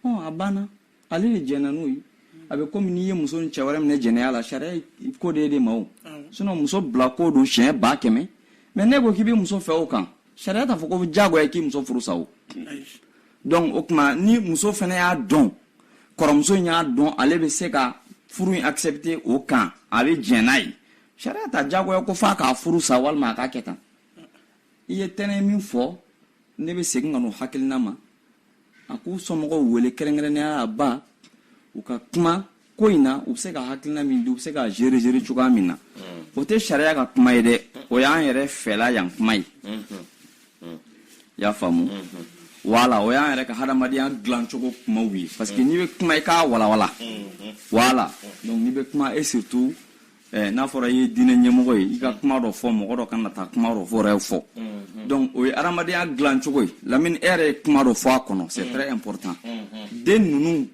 S1: ɔ a banna ale de jɛnna n'o ye a bɛ komi n'i ye muso ni cɛ wɛrɛ minɛ jɛnɛya la sariya ko de ye de ma o sinon muso bila ko don siɲɛ ba kɛmɛ mais n'i ko k'i bɛ muso fɛ o kan sariya t'a fɔ ko diyagoya k'i muso furu sa o donc o tuma ni muso fana y'a dɔn kɔrɔmuso in y'a dɔn ale bɛ se ka furu in accepter o kan a bɛ jɛn n'a ye sariya t'a diyagoya ko f'a k'a furu sa walima a k'a kɛ tan i ye tɛnɛ min fɔ ne bɛ segin ka n'o hakilina ma a k'u somɔgɔw wele kɛrɛnkɛrɛnnenya la a ba u ka kuma ko in na u bɛ se ka hakilina min di u bɛ se k'a gérer cogoya min na mm. o tɛ sariya ka kuma ye dɛ o y'an yɛrɛ fɛla yan kuma ye mm-hmm. mm. y'a faamu mm-hmm. voilà o y'an yɛrɛ ka hadamadenya dilan cogo kumaw ye parce que mm. n'i bɛ kuma i k'a walawala voilà donc n'i bɛ kuma e surtout Eh, n'a fɔra i ye diinɛ ɲɛmɔgɔ ye i ka kuma dɔ fɔ mɔgɔ dɔ kana taa kuma dɔ fɔ yɛrɛ fɔ mm-hmm. donc o ye adamadenya dilan cogo ye lamini e yɛrɛ ye kuma dɔ fɔ a kɔnɔ c'est mm-hmm. très important mm-hmm. den ninnu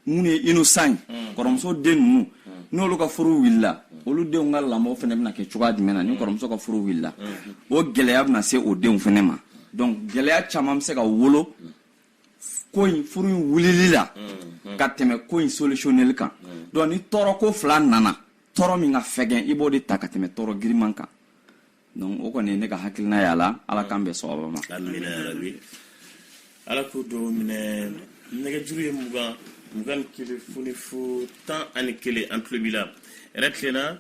S1: minnu ye innocent ye mm. kɔrɔmuso den ninnu mm. n'olu ka furu wulila mm. olu denw ka lamɔ fana bɛna kɛ cogoya jumɛn na ni kɔrɔmuso ka furu wulila o gɛlɛya bɛna se o denw fana ma donc gɛlɛya caman bɛ se ka wolo ko in furu in wulili la mm-hmm. ka tɛmɛ ko in solutionneli kan mm-hmm. donc ni tɔɔrɔ ko fila nana tɔɔrɔ min ka fɛgɛn i b'o de ta ka tɛmɛ tɔɔrɔ giriman kan donc o kɔni ne ka hakilina y'a la ala k'an bɛɛ sɔgɔba ma ala ka dubaw minɛ nɛgɛjuru ye mugan mugan ni kelen fu ni fu tan ani kelen an tulo b'i la hɛrɛ tilenna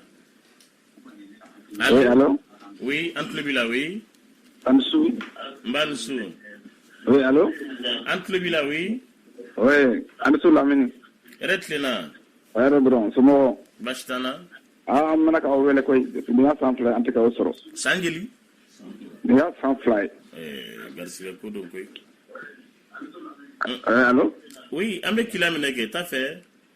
S1: Allô? Oui, allô Oui, an tulo b'i la, oui. An ni su. Nba an ni su. Oui, allô An tulo b'i la, oui. Oui, an ni su Lamini. Hɛrɛ tilenna. Hɛrɛ dɔrɔn, somɔgɔ. Baasi t'an na. Aa, an mɛnna k'aw wele koyi, depuis nin y'a san fila ye, an tɛ k'aw sɔrɔ. San joli? Nin y'a san fila ye. Ɛɛ, garisigɛ ko don koyi. Ɛɛ, allô? Oui, an bɛ k'i lamɛn kɛ, t'a fɛ.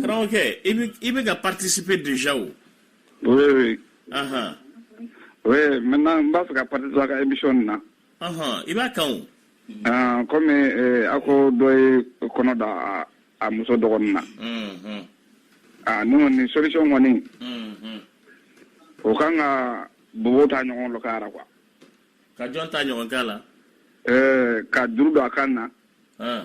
S1: karamɔgɔkɛ i bɛ i bɛ ka participer déjà o. oui oui. ahan. oui maintenant n b'a fɛ ka participer a ka émission nin na. ahan i b'a kan o. aa komi eh, a ko dɔ ye kɔnɔ da a- a muso dɔgɔnin na. Mhm. aa ne kɔni solution kɔni Mhm. o kan ka bobo ta ɲɔgɔn lo k'a ra quoi. ka jɔn ta ɲɔgɔn k'a la. Eh, ka juru don a kan na. Ah.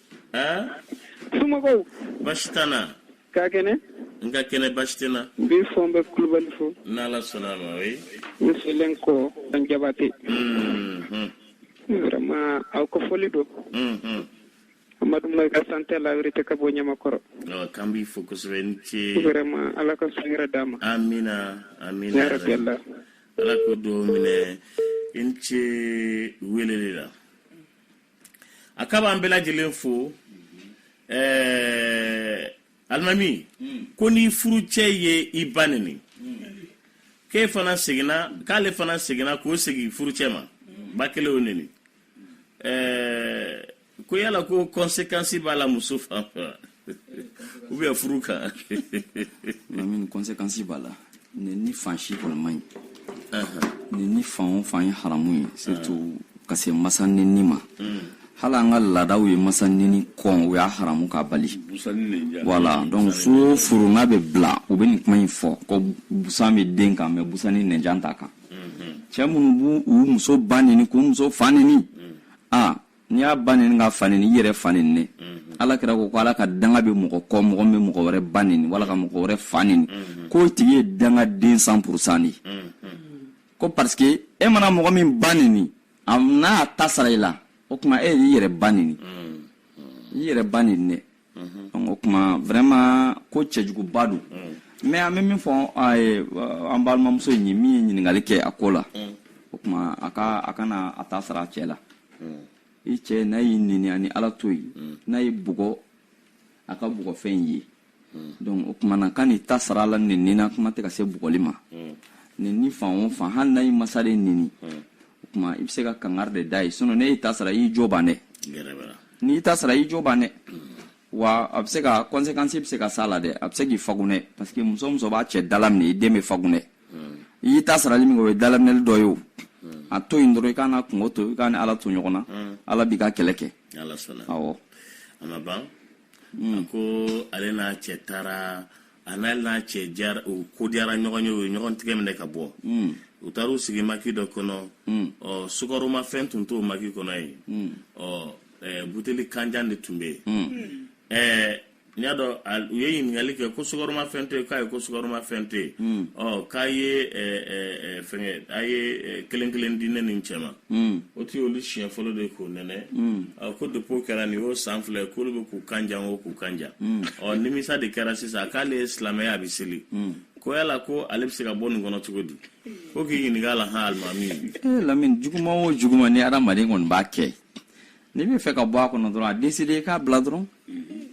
S1: Aa somɔgɔw baasi t'an na ka kɛnɛ n ka kɛnɛ baasi tɛ n na n b'i fo n bɛ kulubali fo n'ala sɔnna a ma o ye n bɛ selen kɔ dan jabate Mhm, vraiment aw ka foli don mhm. amadu mayiga santé la vérité ka bɔ ɲamakɔrɔ Ok, an b'i fo kosɛbɛ i ni ce vraiment ala ka su hɛrɛ d'an ma amina amina ya rabi allah ala ka dubaw minɛ i ni ce weleli la a k'a b'an bɛɛ lajɛlen fo ɛɛ alimami ko ni furucɛ ye i ba nini k'e fana seginna k'ale fana seginna k'o segin furucɛ ma ba kelen o nini ɛɛ ko yala ko kɔnsekansi b'a la muso fan fɛ wa u bɛ furu kan min kɔnsekansi b'a la nini fan si kɔni man ɲi nini fan o fan ye haramu ye surtout ka se masa nini ma mm. hali an ka laadaw ye masa nini kɔn o y'a haramu ka bali wala donc furu furu n'a bɛ bila u bɛ nin kuma in fɔ ko busan bɛ den kan mais busan ni nɛnjan t'a kan mm-hmm. cɛ minnu b'u u muso ba nini k'u muso fa nini mm. a ah, n'i y'a ba nini k'a fa nini i y'i yɛrɛ fa nini mhm. ala kira ko ko ala ka danga bɛ mɔgɔ kɔ mɔgɔ min bɛ mɔgɔ wɛrɛ ba nini wala ka mɔgɔ wɛrɛ fa nini mhm. k'o tigi ye dangaden san purusan de ko parce que e mana mɔgɔ min ba nini n'a ta sara i la o tuma e y'i yɛrɛ ba nini i yɛrɛ ba nini dɛ mhm. o tuma vraiment ko cɛjuguba don mm. mais an bɛ min fɔ an balimamuso in ye min ye ɲininkali kɛ a ko la mm. o tuma a ka a kana a ta sara a cɛ la mm. i cɛ n'a y'i nini a ni ala to yen n'a y'i bugɔ a ka bugɔfɛn ye donc o tuma na kan'i ta sara a la nini na kuma tɛ ka se bugɔli ma nini fan o fan hali n'a y'i masa de nini o tuma i bɛ se ka kangari de da a ye sinɔn n'e y'i ta sara i y'i jo ban dɛ n'i ta sara i jo ban dɛ wa a bɛ se ka kɔnsekansi bɛ se ka s'a la dɛ a bɛ se k'i fagunɛ parce que muso o muso b'a cɛ dalaminɛ i den bɛ fagunɛ i y'i ta sarali min kɛ o ye dalaminɛli dɔ ye o a to yen dɔrɔn i k'a n'a kungo to i k'a ni ala to ɲɔgɔn na ala b'i ka kɛlɛ kɛ awɔ a ma ban a ko ale n'a cɛ taara a n'a n'a cɛ diyara u ko diyara ɲɔgɔn ye u ye ɲɔgɔn tigɛ minɛ ka bɔ hmm. u taara u sigi maki dɔ kɔnɔ hmm. ɔ sukaroma fɛn tun t'o maki kɔnɔ yen hmm. ɔ eh, buteli kanjan de tun bɛ yen eh, n y'a dɔn u ye ɲininkali kɛ ko sukaroma fɛn tɛ yen k'ayi ko sukaroma fɛn tɛ yen ɔ k'a ye eh, fɛnkɛ a ye kelen kelen di ne ni n cɛ ma Mm. o tun y'olu siɲɛ fɔlɔ de k'o nɛnɛ mm. ko depuis o kɛra nin y'o san fila ye k'olu bɛ k'u kan jan o k'u kan jan mm. ɔ nimisa de kɛra sisan k'ale ye silamɛ ye a bɛ seli ko yala ko ale bɛ se ka bɔ nin kɔnɔ cogo di ko k'i ɲininka la han alimami eh, lamini juguman o juguman ni adamaden kɔni b'a kɛ n'i bɛ fɛ ka bɔ a kɔnɔ dɔrɔn a deside i k'a bila dɔrɔn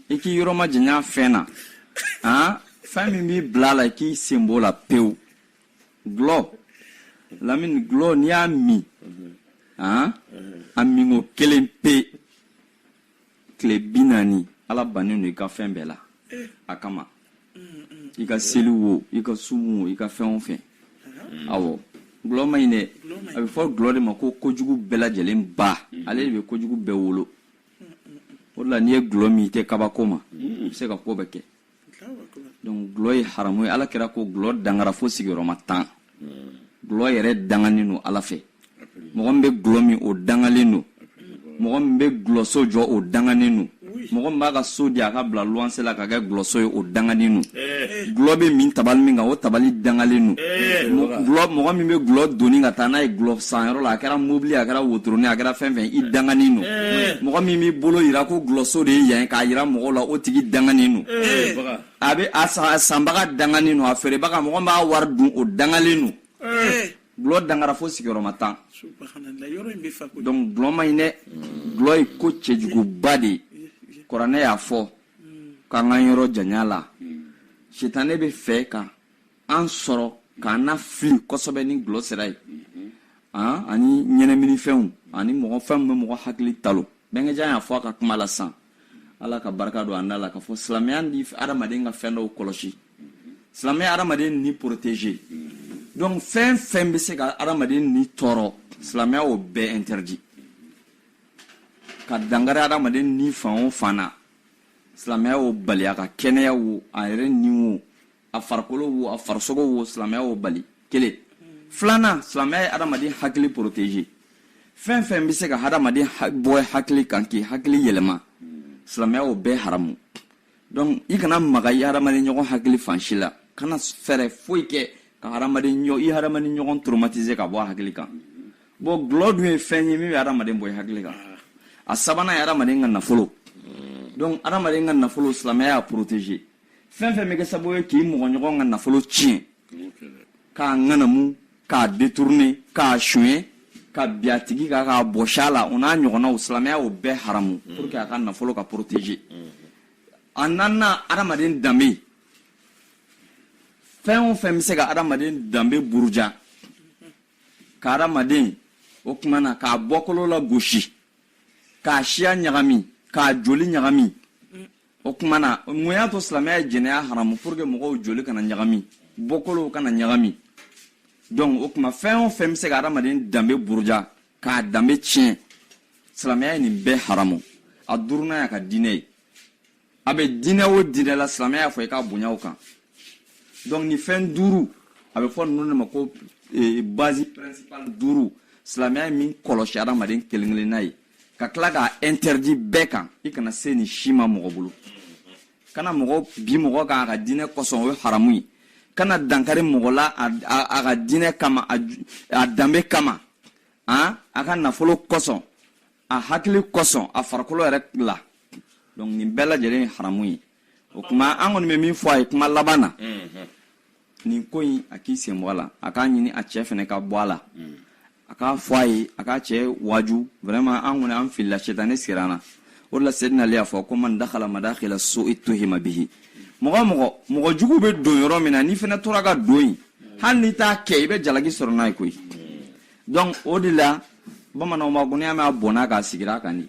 S1: i k'i yɔrɔ majanya fɛn na fɛn min b'i bila a la i k'i sen b'o la pewu Gulɔ lamini gulɔ n'i y'a min a minko kelen pe tile bi naani ala bannen don i ka fɛn bɛɛ la a kama i ka seli wo i ka sun wo i ka fɛn o fɛn awɔ gulɔ man ɲi dɛ a bɛ fɔ gulɔ de ma ko kojugu bɛɛ lajɛlen ba ale de bɛ kojugu bɛɛ wolo o de la n'i ye gulɔ min i tɛ kabako ma i bɛ se ka ko bɛɛ kɛ donc gulɔ ye haramu ye ala kira ko gulɔ dangara fo sigiyɔrɔma tan gulɔ yɛrɛ danganen don ala fɛ mɔgɔ min bɛ gulɔ min o dangalen don mɔgɔ min bɛ gulɔso jɔ o danganen don mɔgɔ min b'a ka so di a k'a bila luwanse la k'a kɛ gulɔso ye o danganen don eh. gulɔ bɛ min tabali min kan o tabali dangalen don eh. gulɔ mɔgɔ min bɛ gulɔ doni ka taa n'a ye gulɔ sanyɔrɔ la a kɛra mobili a kɛra wotoronin a kɛra fɛn fɛn i danganen don mɔgɔ min b'i bolo jira ko gulɔso de ye yan k'a jira mɔgɔw la o tigi danganen don a bɛ a sanbaga danganen don a feerebaga mɔgɔ min b'a wari dun o dangalen don gulɔ dangara fo sigiyɔrɔma tan donc gulɔ man ɲi dɛ gulɔ ye ko cɛjuguba de ye kuranɛ y'a fɔ k'an k'an yɔrɔ janya a la sitanɛ bɛ fɛ ka an sɔrɔ k'an nafili kosɛbɛ ni gulɔ sira ye an ani ɲɛnaminifɛnw ani mɔgɔ fɛn min bɛ mɔgɔ hakili talo bɛnkɛjan y'a fɔ a ka kuma la sisan ala ka barika don a da la k'a fɔ silamɛya nana adamaden ka fɛn dɔw kɔlɔsi silamɛya ye adamaden ni protéger donc fɛn fɛn bɛ se ka adamaden ni tɔɔrɔ silamɛya y'o bɛɛ interdit ka dankari adamaden ni fan o fan na silamɛya y'o bali a ka kɛnɛya wo a yɛrɛ ni wo a farikolo wo a farisogo wo silamɛya y'o bali kelen filanan silamɛya ye adamaden hakili protéger fɛn fɛn bɛ se ka hadamaden bɔ i hakili kan k'i hakili yɛlɛma silamɛya y'o bɛɛ haramu donc i kana maga i hadamaden ɲɔgɔn hakili fan si la kana fɛɛrɛ foyi kɛ ka hadamaden ɲɔ i hadamaden ɲɔgɔn traumatiser k'a bɔ a hakili kan bon gulɔ dun ye fɛn ye min bɛ hadamaden bɔ i hakili kan a sabanan ye hadamaden ka nafolo donc hadamaden ka nafolo silamɛya y'a protéger fɛn fɛn bɛ kɛ sababu ye k'i mɔgɔɲɔgɔn ka nafolo tiɲɛ k'a ŋanamu k'a détourner k'a suɲɛ ka bin a tigi kan k'a bɔsi a la o n'a ɲɔgɔnnaw silamɛya y'o bɛɛ haramu mm. pour que a ka nafolo ka protéger mm. a naaninan adamaden danbe fɛn o fɛn bɛ se ka adamaden danbe buruja ka adamaden o tuma na k'a bɔkolo lagosi k'a siya ɲagami k'a joli ɲagami o tuma na mun y'a to silamɛya ye jɛnɛya haramu pour que mɔgɔw joli kana ɲagami bɔkolow kana ɲagami donc o tuma fɛn o fɛn bɛ se ka adamaden danbe buruja k'a danbe tiɲɛ silamɛya ye nin bɛɛ haramu a duurunan y'a ka diinɛ ye a bɛ diinɛ o diinɛ la silamɛya y'a fɔ i k'a bonya o kan donc nin fɛn duuru a bɛ fɔ ninnu de ma ko eh, base principale duuru silamɛya ye min kɔlɔsi adamaden kelen kelenna ye ka tila k'a interdit bɛɛ kan i kana se nin si ma mɔgɔ bolo kana mɔgɔ bin mɔgɔ kan a ka diinɛ kosɔn o ye haramu ye kana dankari mɔgɔ la a ka diinɛ kama a danbe kama a a ka nafolo kosɔn a hakili kosɔn a farikolo yɛrɛ la donc nin bɛɛ lajɛlen ye haramu ye o kuma an kɔni bɛ min fɔ a ye kuma laban na nin ko in a k'i sen bɔ a la a k'a ɲini a cɛ fɛnɛ ka bɔ a la a k'a fɔ a ye a k'a cɛ waaju vraiment an kɔni an filila setane sigir'an na o de la sedina Ali y'a fɔ ko man dakhala madakhila su'i tuhima bihi mɔgɔ mɔgɔ mɔgɔ jugu bɛ don yɔrɔ min na n'i fɛnɛ tora ka don yen hali n'i t'a kɛ i bɛ jalaki sɔrɔ n'a ye koyi donc o de la bamananw b'a ko n'i y'a mɛn a bɔnna k'a sigira a kan de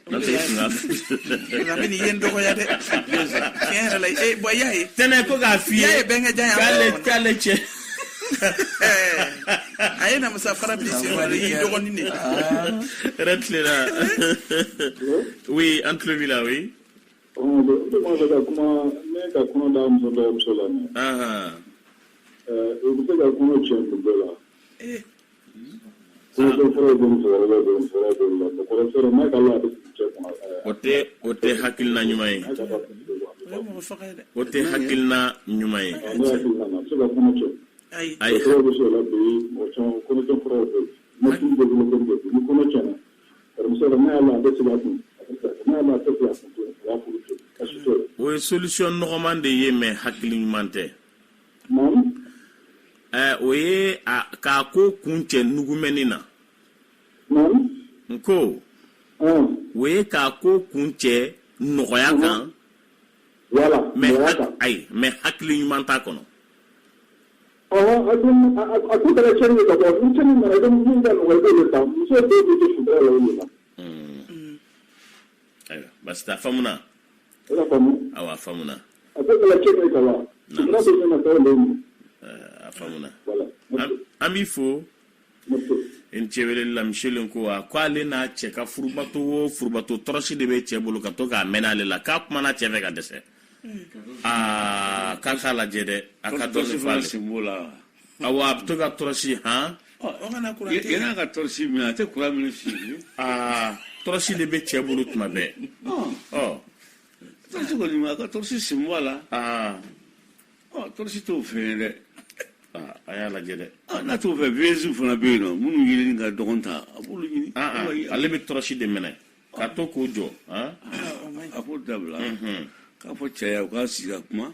S1: N tɛ fila. Nka bɛ nin ye n dɔgɔya dɛ. Tiɲɛ yɛrɛ la ee bon i y'a ye. Tɛnɛ ko k'a f'i ye. Y'a ye bɛnkɛ jan y'a fɔ. K'ale k'ale cɛ. a ye namasa fara bi se ma y'i dɔgɔnin de. Yɛrɛ tilela. Oui an tulo b'i la oui. Ɔn de de ma fɛ ka kuma ne ka kɔnɔ da muso dɔ muso la. Ɛɛ u bɛ se ka kɔnɔ cɛ muso la. O tɛ o tɛ hakilila ɲuman ye o tɛ hakilila ɲuman ye ayi o ye solution nɔgɔman de ye mais hakili ɲuman tɛ o ye k'a ko kuncɛ nugumɛni na n ko o ye k'a ko kuncɛ nɔgɔya kan mais ayi mais hakili ɲuman t'a kɔnɔ basi faamuya I y'a faamu? Awɔ, a faamuna. A ko kala cɛ bɛ ka wa? Sutura bɛ ɲɛna tɔw le ɲɛ. A faamuna. Voilà. An b'i fo. Merci. I ni ce weleli la, monsieur Lenkowa. Ko ale n'a cɛ ka furubato o furubato tɔrɔsi de bɛ cɛ bolo ka to k'a mɛnɛ ale la, k'a kumana cɛ fɛ ka dɛsɛ. Aa k'a k'a lajɛ dɛ, a ka dɔɔnin fɔ ale. A a bɛ to ka tɔrɔsi hɔn ka tɔrɔsi minɛ a tɛ kuran minɛ si aa tɔrɔsi de bɛ cɛ bolo tuma bɛɛ a ka tɔrɔsi sin la tɔrɔsi t' o fɛ yen dɛ a y'a lajɛ dɛ n t'o fɛ voisin fana bɛ yen nɔn minnu ɲini ka dɔgɔn ta a bolo ale bɛ tɔrɔsi de minɛ k'a to k'o jɔ a b'o dabila k'a fɔ cɛ u k'a sigi ka kuma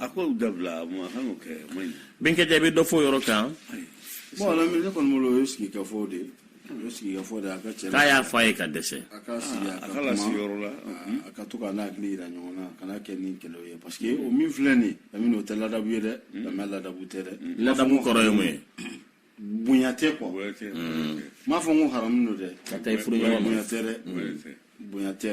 S1: a ko dabila kɛ bɛnkɛ ja bɛ dɔ fɔ yɔrɔ ka bon a la mɛ ne kɔni bolo o ye sigi ka fɔ de ye o sigi ka fɔ de a ka cɛ k'a y'a fɔ a ye ka dɛsɛ a ka sigi a ka lasi yɔrɔ la a ka to k'an hakili yira ɲɔgɔn na kana kɛ ni kɛlɛ ye parce que o min filɛ nin ye o tɛ ladabu ye dɛ silamɛ ladabu tɛ dɛ ladabu kɔrɔ ye mun ye bonya tɛ quoi n m'a fɔ n ko haramu don dɛ ka taa i furuɲɔgɔn ma bonya tɛ dɛ bonya tɛ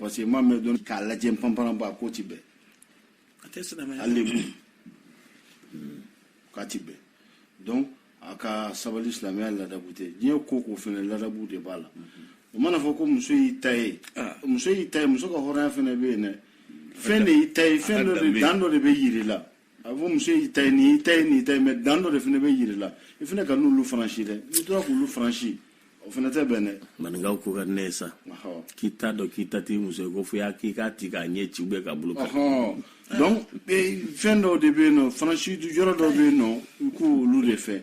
S1: parce que maa min don k'a lajɛ panpanba a ko ti bɛn a tɛ silamɛya hali lebu k'a ti bɛn donc a ka sabali silamɛya ladabu tɛ diɲɛ ko ko fɛnɛ ladabu de b'a la o mana fɔ ko muso y'i ta ye ah. muso y'i ta ye muso ka hɔrɔnya fɛnɛ bɛ yen dɛ fɛn de y'i ta ye fɛn dɔ de dan dɔ de bɛ yiri la a fɔ muso y'i ta ye nin y'i ta ye nin y'i ta ye mɛ dan dɔ de fana bɛ yiri la i fana kan'olu franchir dɛ n'i tora k'olu franchir o fana tɛ bɛn dɛ maninkaw ko ka di ne ye sa Ɔhɔ. k'i t'a dɔn k'i ta t'i muso ye ko fo y'a k'i k'a ti k'a ɲɛ ci ou bien k'a bolo kari Ɔhɔn. donc eh, fɛn dɔw de bɛ yen nɔ faransi yɔrɔ dɔw bɛ yen nɔ i k'olu de fɛ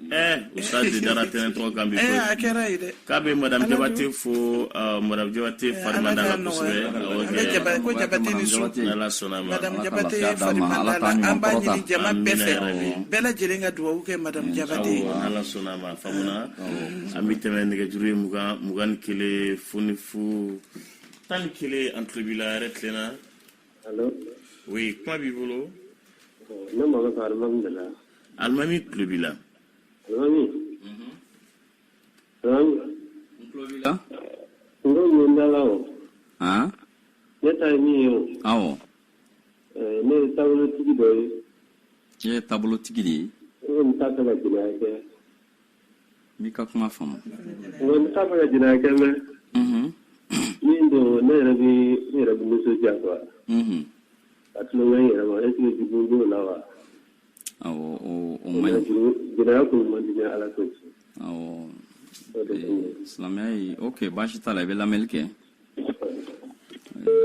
S1: Usadi dara tɛnɛn tɔgɔ kan bi k'a bɛ madamu Jabate fo madamu Jabate fari man d'a la kosɛbɛ bɛɛ lajɛlen ka dugawu kɛ madamu Jabate an bɛ tɛmɛ nɛgɛjuru ye mugan mugan kelen f fu tan ni kelen an tulo b'i la yɛrɛ tilenna o ye kuma b'i bolo Alimami tulo b'i la. Alimami. Alimami. N tulo b'i la. N ko yen da la o. Han. Ne ta ye min ye o. Awɔ. Ɛɛ ne ye taabolotigi dɔ ye. Ne ye taabolotigi de ye. N ko n t'a fɛ ka jɛnɛya kɛ. N b'i ka kuma faamu. N ko n t'a fɛ ka jɛnɛya kɛ mɛ. Min don ne yɛrɛ bɛ ne yɛrɛ bɛ nisɔndiya quoi. Ka tulonkɛ n yɛrɛ ma est ce que jugu b'o la wa? Silamɛ o baasi t'a la i bɛ lamɛnni kɛ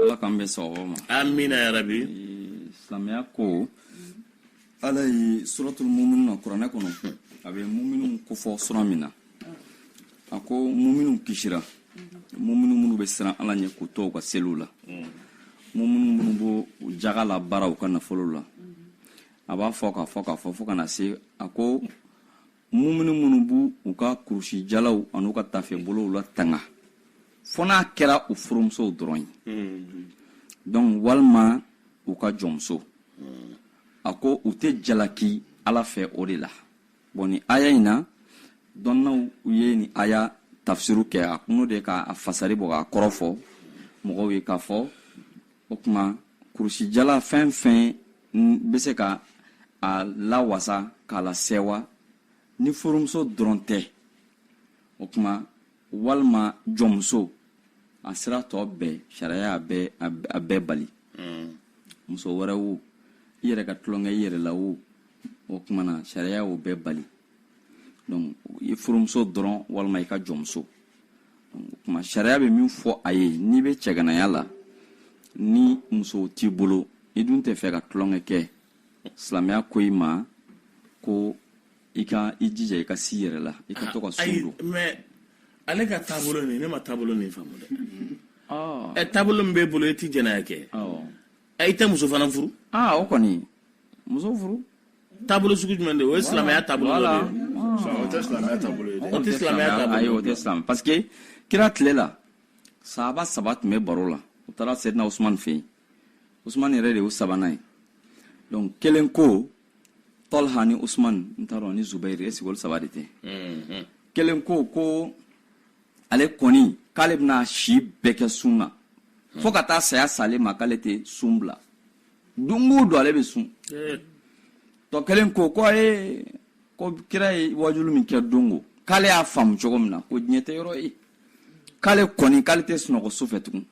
S1: ala k'an bɛɛ s ma an min yɛrɛ bi silamɛya ko ala ye suratulu muminun na kuranɛ kɔnɔ a bɛ muminuw kofɔ sura min na a ko muminu kisira muminu minnu bɛ siran ala ɲɛ k'u to u ka seliw la muminu minnu b'o jaga labaara u ka nafolo la a b'a fɔ k'a fɔ k'a fɔ fo ka na se a ko muminu minnu b'u ka kurusijalaw an'u ka tafebolow latanga fo n'a kɛra u furumusow dɔrɔn ye donc walima u ka jɔnmuso a ko u tɛ jalaki ala fɛ o de la bɔn nin aya in na dɔnnaw u ye nin aya tafsiru kɛ a kuno de ka a fasari bɔ k'a kɔrɔ fɔ mɔgɔw ye k'a fɔ o tuma kurusijala fɛn fɛn bɛ se ka a lawasa k'a lasɛwa ni furumuso dɔrɔn tɛ o tuma walima jɔnmuso a sira tɔ bɛɛ sariya y'a bɛɛ a bɛɛ bali hmm. muso wɛrɛ wo i yɛrɛ ka tulon kɛ i yɛrɛ la wo o tuma na sariya y'o bɛɛ bali donc i furumuso dɔrɔn walima i ka jɔnmuso o tuma sariya bɛ min fɔ a ye n'i bɛ cɛganaya la ni muso t'i bolo i dun tɛ fɛ ka tulonkɛ kɛ silamɛya ko i ma ko i ka i jija i ka se i yɛrɛ la i ka to ka sun don mais ale ka taabolo nin ne ma taabolo nin faamu dɛ ah. ɛ taabolo min b'e bolo i tɛ jɛnɛya kɛ i tɛ muso fana furu ah, o kɔni muso furu taabolo sugu jumɛn de o ye silamɛya taabolo dɔ de ye o tɛ silamɛya taabolo ye dɛ o tɛ silamɛya taabolo ye o tɛ silamɛ parce que kira tile la sahaba saba tun bɛ baro la u taara sɛdina usumani fɛ yen usumani yɛrɛ de y'u sabanan ye donc kelen ko tɔlha ni usman n t'a dɔn ni zubairi est-ce que olu saba de tɛ mhm. kelen ko ko ale kɔni k'ale bɛna si bɛɛ kɛ sun na mhm. fo ka taa saya s'ale ma k'ale tɛ sun bila don o don ale bɛ sun eh. tɔ kelen ko ko ye ko kira ye waajuli min kɛ don o k'ale y'a faamu cogo min na ko diɲɛ tɛ yɔrɔ ye k'ale kɔni k'ale tɛ sunɔgɔ su fɛ tugun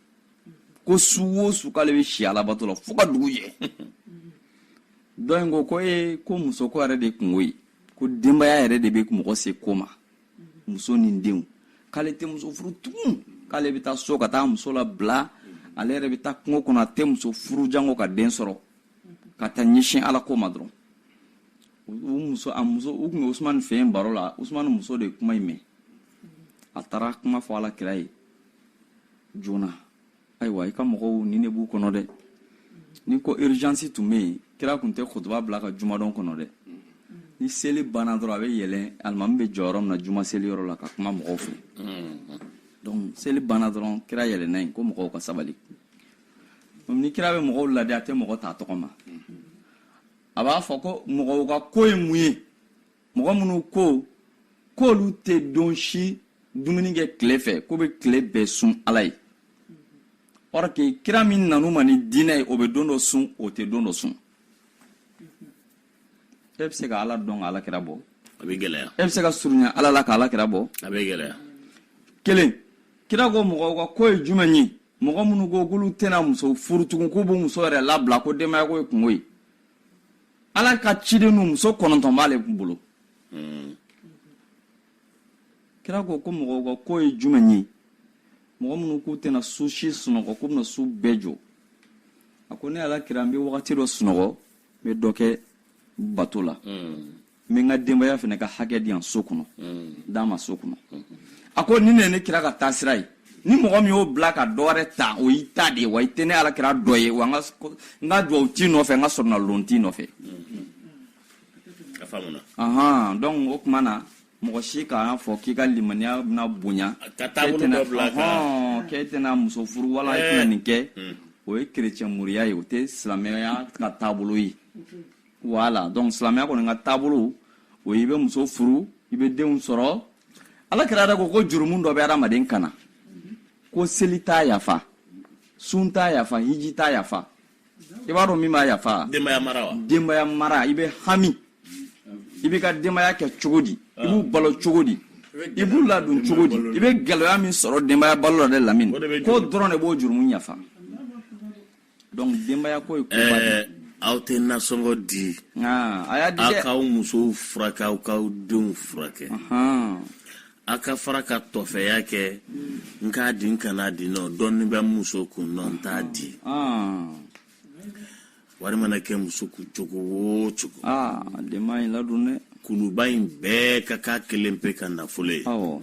S1: ko su o su k'ale bɛ si alabato la fo ka dugu jɛ dɔ in ko ko e ko muso ko yɛrɛ de kunko ye ko denbaya yɛrɛ de bɛ mɔgɔ se ko ma muso ni denw k'ale tɛ muso furu tugun k'ale bɛ taa so ka taa muso labila ale yɛrɛ bɛ taa kungo kɔnɔ a tɛ muso furu janko ka den sɔrɔ ka taa ɲɛsin ala ko ma dɔrɔn u muso a muso u tun bɛ usumani fɛ yen baro la usumani muso de ye kuma in mɛn a taara kuma fɔ ala kira ye joona ayiwa i ka mɔgɔw nin de b'u kɔnɔ dɛ ni ko urgence tun bɛ yen kira tun tɛ kutuba bila ka jumadon kɔnɔ dɛ ni seli banna dɔrɔn a bɛ yɛlɛn alimami bɛ jɔ yɔrɔ min na juma seli yɔrɔ la ka kuma mɔgɔw fɛ donc seli banna dɔrɔn kira yɛlɛnna yen ko mɔgɔw ka sabali ni kira bɛ mɔgɔw laadi a tɛ mɔgɔ t'a tɔgɔ ma a b'a fɔ ko mɔgɔw ka ko ye mun ye mɔgɔ minnu ko k'olu tɛ don si dumuni kɛ tile fɛ k'u bɛ tile bɛɛ sun ala ye or que kira min nan'u ma ni diinɛ ye o bɛ don dɔ sun o tɛ don dɔ sun e bɛ se ka ala dɔn ka ala kira bɔ a bɛ gɛlɛya e bɛ se ka surunya ala la ka ala kira bɔ a bɛ gɛlɛya kelen kira ko mɔgɔw ka ko ye jumɛn ye mɔgɔ minnu ko k'olu tɛna muso furu tugun k'u b'u muso yɛrɛ labila ko denbaya ko ye kunko ye ala ka ciden dun muso kɔnɔntɔn b'ale bolo hmm. kira ko ko mɔgɔw ka ko ye jumɛn ye mɔgɔ minnu k'u tɛna su si sunɔgɔ k'u bɛna su bɛɛ jɔ a ko ne ala kira n bɛ wagati dɔ sunɔgɔ n bɛ dɔ kɛ bato la hmm. n bɛ n ka denbaya fana ka hakɛ di yan so kɔnɔ mm. d'a ma so kɔnɔ mm. a ko nin ye ne kira ka taasira ye ni mɔgɔ min y'o bila ka dɔ wɛrɛ ta o y'i ta de ye wa i tɛ ne ala kira dɔ ye wa n ka duwawu t'i nɔfɛ n ka soronnadon t'i nɔfɛ ahan donc o tuma na mɔgɔ si k'a fɔ k'i ka limaniya bɛna bonya k'e tɛna muso furu wala i tɛna nin kɛ o ye kerecɛn moriya ye o tɛ silamɛya ka taabolo ye voilà donc silamɛya kɔni ka taabolo o i bɛ muso furu i bɛ denw sɔrɔ ala kira yɛrɛ ko ko jurumu dɔ bɛ adamaden kan na ko seli t'a yafa sun t'a yafa hiji t'a yafa i b'a dɔn min b'a yafa denbaya mara wa denbaya mara i bɛ hami i b'i ka denbaya kɛ cogo di i b'u balo cogo di i b'u ladon cogo di i bɛ gɛlɛya min sɔrɔ denbaya balo la dɛ lamini k'o dɔrɔn de b'o jurumu yafa donc denbaya ko ye koba de ye. aw tɛ nasɔngɔ di Aa, a y'a di aw dɛ k'aw musow furakɛ aw k'aw denw furakɛ Ahan. aw ka fara ka tɔfɛya kɛ n k'a di n kan'a di nɔ dɔɔni bɛ n muso kun nɔ n t'a di Aa, wari mana kɛ muso kun cogo o cogo aa denbaya in ladon dɛ kuluba in bɛɛ ka k'a kelen pe ka nafolo ye awɔ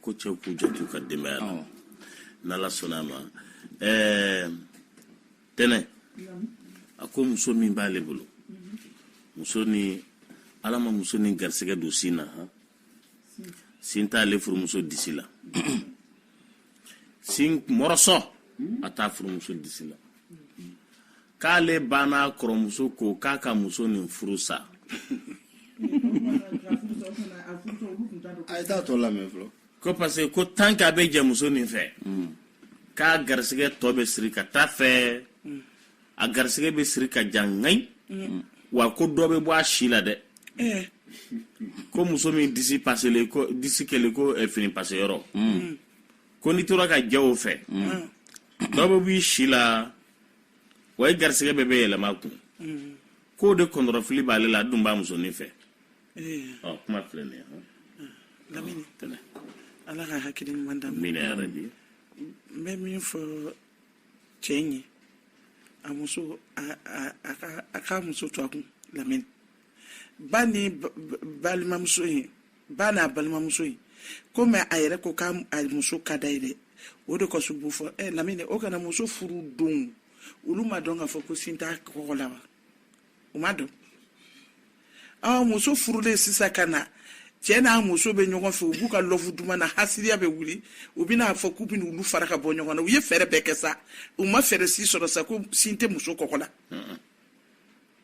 S1: ko cɛw k'u jant'u ka denbaya la n'ala sɔnna a ma ɛɛ tɛnɛ a ko muso min b'ale bolo muso nin ala ma muso nin garisɛgɛ don sin na han sin t'ale furumuso disi la sin morceau a t'a furumuso disi la k'ale ba n'a kɔrɔmuso ko k'a ka muso nin furu sa ko parce que ko tant qu'a bɛ jɛ muso nin fɛ hmm. k'a garisɛgɛ tɔ bɛ siri ka t'a fɛ hmm. a garisɛgɛ bɛ siri ka ja ŋayi hmm. wa ko dɔ bɛ bɔ a si la dɛ eh. ko muso min disi paselen ko disi kɛlen ko eh, fini pase yɔrɔ ko n'i tora ka jɛ o fɛ dɔ bɛ b'i si la wa i garisɛgɛ bɛɛ bɛ yɛlɛma kun mm. k'o de kɔnɔrɔfili b'ale la a dun b'a musonin fɛ eh. ɔ kuma filɛ nin ye lamini ala ka hakili ɲuman da min yɛrɛ bi n bɛ min fɔ cɛ in ye a muso a k'a muso to a kun lamini ba ni balimamuso in ba n'a balimamuso ye komi a yɛrɛ ko k'a muso ka da ye dɛ o de kɔsɔn n b'o fɔ ɛ lamini o kana muso furu don olu m'a dɔn k'a fɔ ko sin t'a kɔgɔ la wa u m'a dɔn ɔ muso furulen sisan ka na cɛ n'a muso bɛ ɲɔgɔn fɛ u b'u ka love duman na hasiriya bɛ wuli u bɛna fɔ k'u bɛna olu fara ka bɔ ɲɔgɔn na u ye fɛɛrɛ bɛɛ kɛ sa u ma fɛɛrɛ si sɔrɔ sa ko sin tɛ muso kɔgɔ la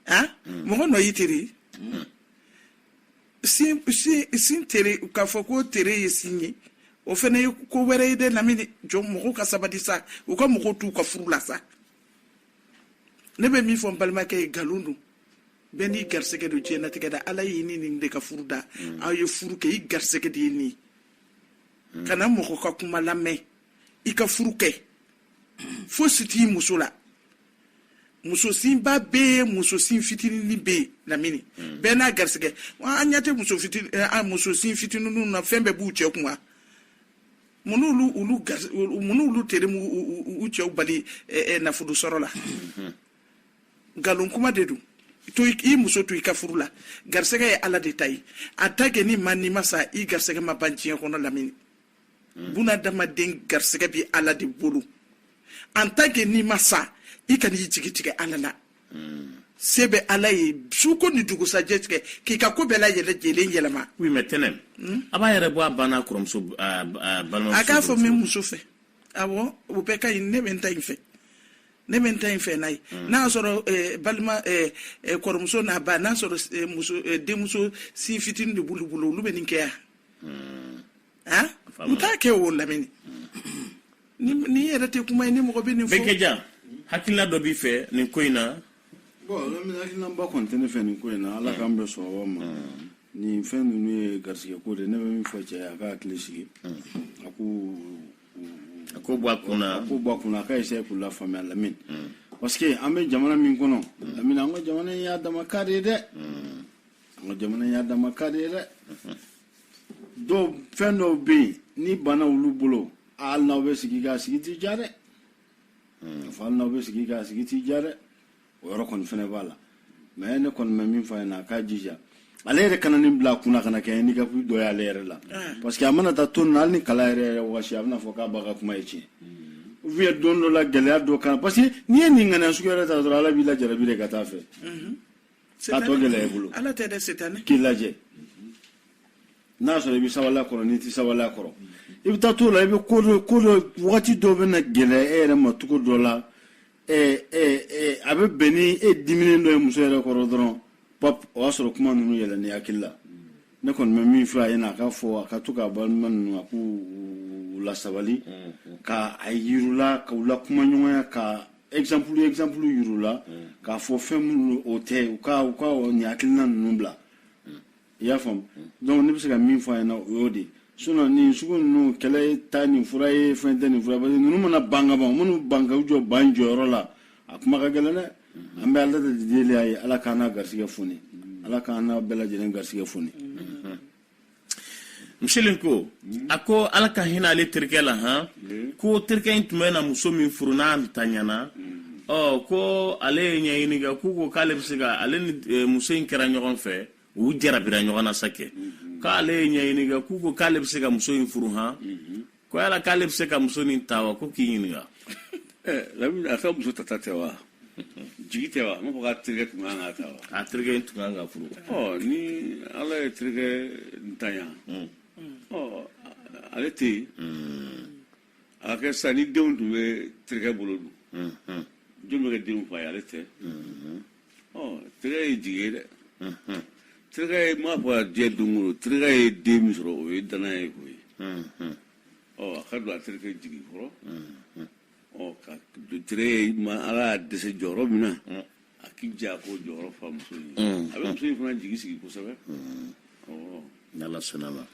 S1: a mɔgɔ nɔ y'i tere sin tere k'a fɔ ko tere ye sin ye o fana ye ko wɛrɛ ye dɛ lamini jɔ mɔgɔw ka sabali sa u ka mɔgɔw t'u ka furu la sa ne bɛ min fɔ n balimakɛ ye nkalon don bɛɛ n'i garisɛgɛ don diɲɛlatigɛ la ala y'i ni nin de ka furu da mm. aw ye furu kɛ i garisɛgɛ de ye nin ye mm. kana mɔgɔ ka kuma lamɛn i ka furu kɛ fɔ sin t'i muso la muso sinba bɛ yen muso sin fitinin bɛ yen lamini hmm. bɛɛ n'a garisɛgɛ an ɲɛ tɛ muso fitinin eh, a muso sin fitininw na fɛn bɛɛ b'u cɛ kun wa mun n'olu olu gari mun n'olu tere ma u cɛw bali eh, eh, nafolo sɔrɔ la hmm. nkalon kuma de don to i muso to i ka furu la garisɛgɛ ye ala de ta ye en tant que n'i ma n'i ma sa i garisɛgɛ ma ban diɲɛ kɔnɔ lamini hmm. bunadamaden garisɛgɛ bi ala de bolo en tant que n'i ma sa i kana i jigi tigɛ ala la hmm. se bɛ ala ye suko ni dugusajɛ cɛ k'i ka ko bɛɛ la yɛlɛ jelen yɛlɛma oui mais tɛnɛn hmm? a ba yɛrɛ bɔ a ba n'a a kɔrɔmuso balimamuso a k'a fɔ n bɛ muso fɛ awɔ o bɛɛ ka ɲi ne bɛ n ta in fɛ ne bɛ n ta in fɛ n'a ye hmm. n'a y'a sɔrɔ eh, balima eh, eh, kɔrɔmuso n'a ba n'a sɔrɔ muso denmuso sin fitinin de b'olu bolo olu bɛ nin kɛ yan u t'a kɛ o lamini nin nin yɛrɛ tɛ kuma ye ni mɔgɔ bɛ nin fɔ bɛnkɛja hakilila dɔ b'i fɛ nin ko in na bon lamini hakilinaba kɔni tɛ ne fɛ nin ko in na ala k'an bɛn sawaba ma nin fɛn ninnu ye garisɛgɛ ko de ye. ne bɛ min fɔ cɛ ye a k'a hakili sigi a k'o a k'o bɔ a kun na a k'o bɔ a kun na a ka essayer k'u lafaamuya lamini parce que an bɛ jamana min kɔnɔ lamini an ka jamana in y'a dama cas de ye dɛ an ka jamana y'a dama ka de ye dɛ dɔw fɛn dɔw bɛ yen ni bana olu bolo hali n'aw bɛ sigi k'a sigi t'i diya dɛ fo hali n'aw bɛ sigi k'a sigi t'i diya dɛ o yɔrɔ kɔni fɛnɛ b'a la mais ne kɔni bɛ min fɔ a ɲɛna a k'a jija ale yɛrɛ kana nin bila a kunna kana kɛ handicap dɔ ye ale yɛrɛ la parce que a mana taa to nin na hali ni kala yɛrɛ yɛrɛ wagasi a bɛna fɔ k'a ba ka kuma ye tiɲɛ ou bien don dɔ la gɛlɛya dɔ kan parce que n'i ye nin ŋaniya sugu yɛrɛ ta dɔrɔn ala b'i lajarabi de ka taa fɛ k'a tɔ gɛlɛya i bolo ala tɛ dɛ setani k'i lajɛ n'a sɔrɔ i bɛ sabali a kɔrɔ n'i tɛ sabali a kɔrɔ i bɛ taa t'o la i bɛ ko dɔ ko dɔ wagati dɔ bɛ na gɛlɛya e yɛrɛ ma cogo dɔ la ɛɛ ɛɛ ɛɛ a bɛ bɛn ni e diminen dɔ ye muso yɛrɛ kɔrɔ dɔrɔn pap o y'a sɔrɔ kuma ninnu yɛlɛnn'i hakili la ne kɔni bɛ min fɔ a ɲɛna a ka fɔ a ka to k'a balima ninnu a k'u lasabali ka a yir'u la ka u lakumaɲɔgɔnya ka exemple exemple yir'u la mm. k'a fɔ fɛn minnu o tɛ u ka u ka nin hakilina ninnu bila mm. i y'a faamu mm. donc ne bɛ se ka min fɔ a ɲɛna o y'o de ye sinon nin sugu ninnu kɛlɛ tɛ nin fura ye fɛn tɛ nin fura parce que ninnu mana ban ka ban minnu ban ka u jɔ ba jɔyɔrɔ la a kuma ka gɛlɛn dɛ an bɛ ala de deli a ye ala k'an n'a garisigɛ foni ala k'an n'a bɛɛ lajɛlen garisigɛ foni msili ko mm. a ko ala ka hinɛ ale terikɛ la han mm. ko terikɛ in tun bɛna muso min furu n'a ntanyana mm. ɔ oh, ko ale ye ɲɛɲini kɛ k'u ko k'ale bɛ se ka ale ni e, muso in kɛra ɲɔgɔn fɛ u jarabira ɲɔgɔn na sa kɛ mm-hmm. k'ale ye ɲɛɲini kɛ k'u ko k'ale bɛ se ka muso in furu han mm-hmm. ko yala k'ale bɛ se ka muso nin ta wa ko k'i ɲininka lamini a ka muso tata tɛ wa jigi tɛ wa n b'a fɔ k'a terikɛ tun kan k'a ta wa a terikɛ in tun kan ka furu ɔ ni ala ye terikɛ ntanya ɔ ale tɛ yen a ka kɛ sisan ni denw tun bɛ terikɛ bolo dun jɔn bɛ kɛ denw fa ye ale tɛ ɔ terikɛ ye jigi ye dɛ terikɛ ye m'a fɔ a diɲɛ don o don terikɛ ye den min sɔrɔ o ye danaya ye o ye ɔ a ka don a terikɛ jigi kɔrɔ ɔ ka don terikɛ ye ma ala y'a dɛsɛ jɔyɔrɔ min na a k'i jija k'o jɔyɔrɔ fa muso in ye a bɛ muso in fana jigi sigi kosɛbɛ ɔ n'ala sɔnn'a ma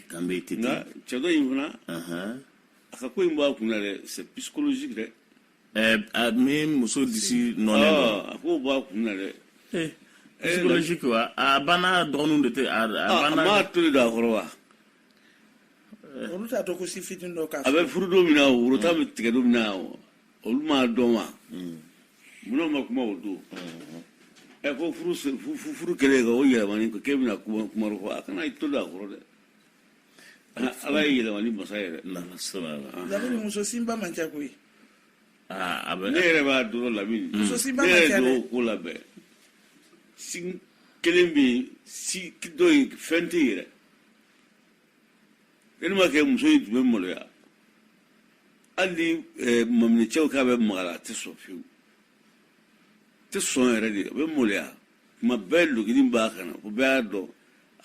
S1: k'an bɛ ten nka cɛ dɔ in fana a ka ko in b'a kun na dɛ c'est psychologique dɛ a min muso disi nɔ a ko b'a kun na dɛ eh, psychologique wa a banna dɔgɔninw de tɛ a ah, banna a m'a tolo don a kɔrɔ wa eh. olu t'a dɔn ko si fitini dɔ k'a a bɛ furu don min na o woro tan bɛ tigɛ don min na olu m'a dɔn wa hmm. munna u ma kuma o don hmm. ɛ eh, ko furu furu kɛlen ka o yɛlɛmani k'e bɛna kuma kuma fɔ a kana i tolo don a kɔrɔ dɛ ala ye yɛlɛmali masa yɛrɛ labi muso sinba man ca koyi a bɛ ne yɛrɛ b'a dɔrɔn labi muso sinba man ca dɛ ko labɛn sin kelen bɛ yen sin dɔ ye fɛn tɛ yɛrɛ ne ma kɛ muso in tun bɛ maloya hali ni maminɛcɛ k'a bɛ maga a la a tɛ sɔn fiyewu tɛ sɔn yɛrɛ de a bɛ maloya kuma bɛɛ logili b'a kana ko bɛɛ y'a dɔn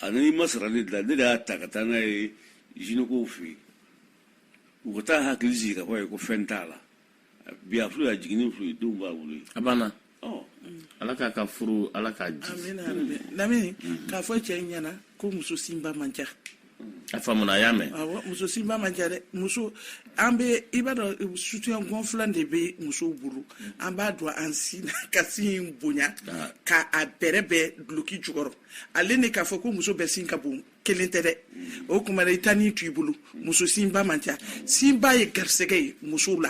S1: ani i ma sara ne dilan ne de y'a ta ka taa n'a ye jinɛkow fɛ yen u ka taa a hakili sigi k'a fɔ a ye ko fɛn t'a la bi a furu y'a jiginni furu ye denw b'a bolo ye a banna ala k'a ka furu ala k'a ji lamini k'a fɔ cɛ ɲɛna ko muso sinba man ca a faamuna a y'a mɛn muso sinba man ca dɛ muso an bɛ i b'a dɔn soutien gonflant de bɛ musow bolo an b'a don an sin na ka sin in bonya ah. ka a bɛrɛ bɛɛ duloki jukɔrɔ ale ni k'a fɔ ko muso bɛɛ sin ka bon kelen tɛ dɛ o tuma i ta ni t'i bolo muso sinba man ca sinba ye garisɛgɛ ye musow la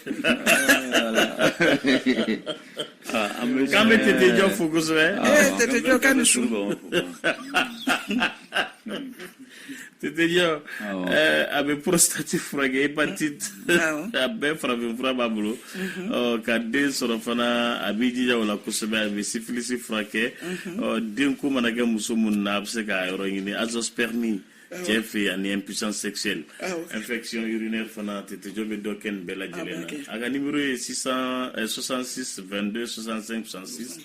S1: K'an bɛ tete jɔ fo kosɛbɛ tete jɔ ka ni su tete jɔ a bɛ porositati furakɛ hepatite a bɛɛ farafin fura b'a bolo ka den sɔrɔ fana a b'i jija o la kosɛbɛ a bɛ sifilisi furakɛ denko mana kɛ muso minnu na a bɛ se k'a yɔrɔ ɲini azoospermie cɛ fɛ yen ani impuissance sexuelle ah, infection urinaire fana tetejɔ bɛ dɔ kɛ nin bɛɛ lajɛlen na ah, a ka nimero ye 66 22 65 66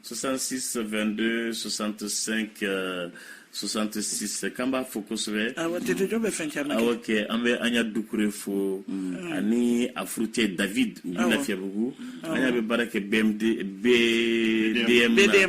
S1: 66 22 65 66 k'an b'a fo kosɛbɛ awɔ ah, tetejɔ bɛ fɛn caman kɛ awɔ kɛ an bɛ ana dukure fo mm. ani a furucɛ david u bɛ lafiyabugu ana bɛ baara kɛ bmd bdm na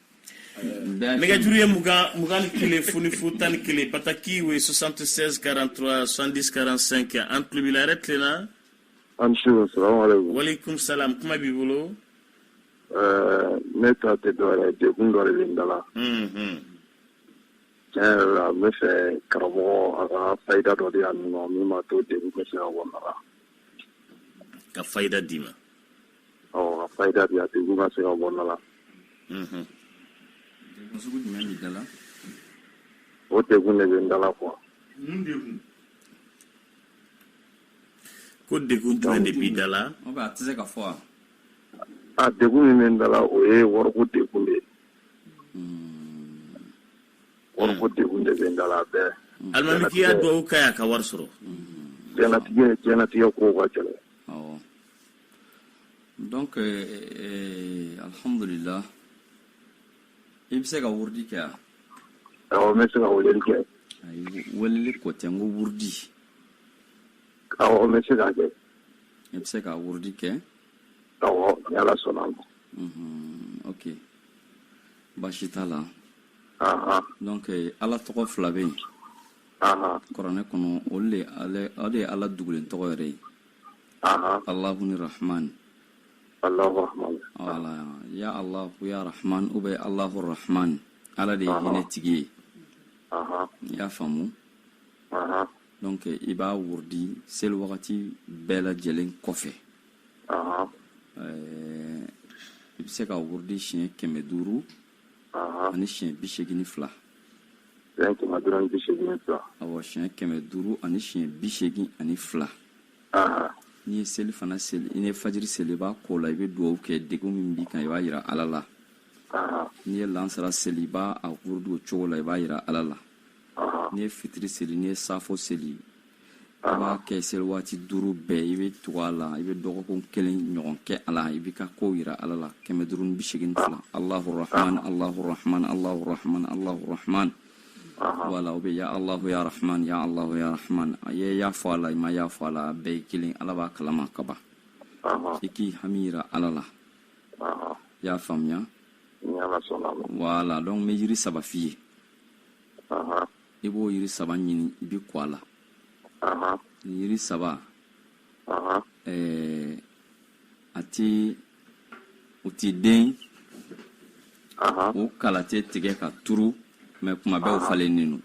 S1: nɛgɛjuru ye mugan mugan ni kelen fu ni fu tan ni kelen pataki o ye 76 43 70 45 an tulo b'i la yɛrɛ tilenna a ni su salamualeykum walekum salam kuma b'i bolo eh, ne ta tɛ dɔwɛrɛ ye degun dɔ de bɛ n da la mhm. tiɲɛ yɛrɛ la n bɛ fɛ karamɔgɔ a ka fayida dɔ di yan o min b'a to degun bɛ se ka bɔ n na ka fayida di n ma Ɔ a fayida di a degun ka se ka bɔ n da la ko degun de bɛ n da la kuwa ko degun jɔn de b'i da la a tɛ se ka fɔ a degun min bɛ n da la o ye wariko degun de ye wariko degun de bɛ n da la bɛɛ alimami ka duwawu kɛ n ye n ka wari sɔrɔ diɲɛnatigɛ diɲɛnatigɛ ko ka gɛlɛn donc eh, eh, alhamdulillah i bɛ se ka wurudi kɛ wa awɔ n bɛ se ka weleli kɛ ayi weleli ko tɛ n ko wurudi awɔ n bɛ se k'a kɛ i bɛ se ka wurudi kɛ awɔ ni ala sɔnna ma mhm, ok baasi t'a la donc eh, ala tɔgɔ fila bɛ yen kuranɛ kɔnɔ o de ye ala dugulen tɔgɔ yɛrɛ ye Allahu ni Rahman ya Allahu ya Rahman ou bien Allahu Rahman ala de ye hinɛ tigi ye i y'a faamu donc i b'a wurudi seli wagati bɛɛ lajɛlen kɔfɛ i bɛ se k'a wurudi siɲɛ kɛmɛ duuru ani siɲɛ bi segin ni fila siɲɛ kɛmɛ duuru ani bi segin ni fila awɔ siɲɛ kɛmɛ duuru ani siɲɛ bi segin ani fila n'i ye selifana seli n'i ye fajiri seli i b'a k'o la i bɛ dugawu kɛ degun min b'i kan i b'a yira ala la n'i ye lansara seli i b'a a wurudi o cogo la i b'a yira ala la n'i ye fitiri seli n'i ye safo seli i b'a kɛ seli waati duuru bɛɛ i bɛ tugu a la i bɛ dɔgɔkun kelen ɲɔgɔn kɛ a la i b'i ka kow yira ala la kɛmɛ duuru ni bi seegin fila alahu rahman alahu rahman alahu rahman alahu rahman voilà ou bien ya alahu ya rahman ya alahu ya rahman i ye ya fɔ a la i ma ya fɔ a la a bɛɛ ye kelen ala b'a kalama ka ban i k'i hami yira ala la i y'a faamuya voilà donc n bɛ yiri saba f'i ye i b'o yiri saba ɲini i b'i ko a la nin yiri saba ɛɛ a tɛ u ti den u kala tɛ tigɛ ka turu mais kuma bɛɛ u falennen don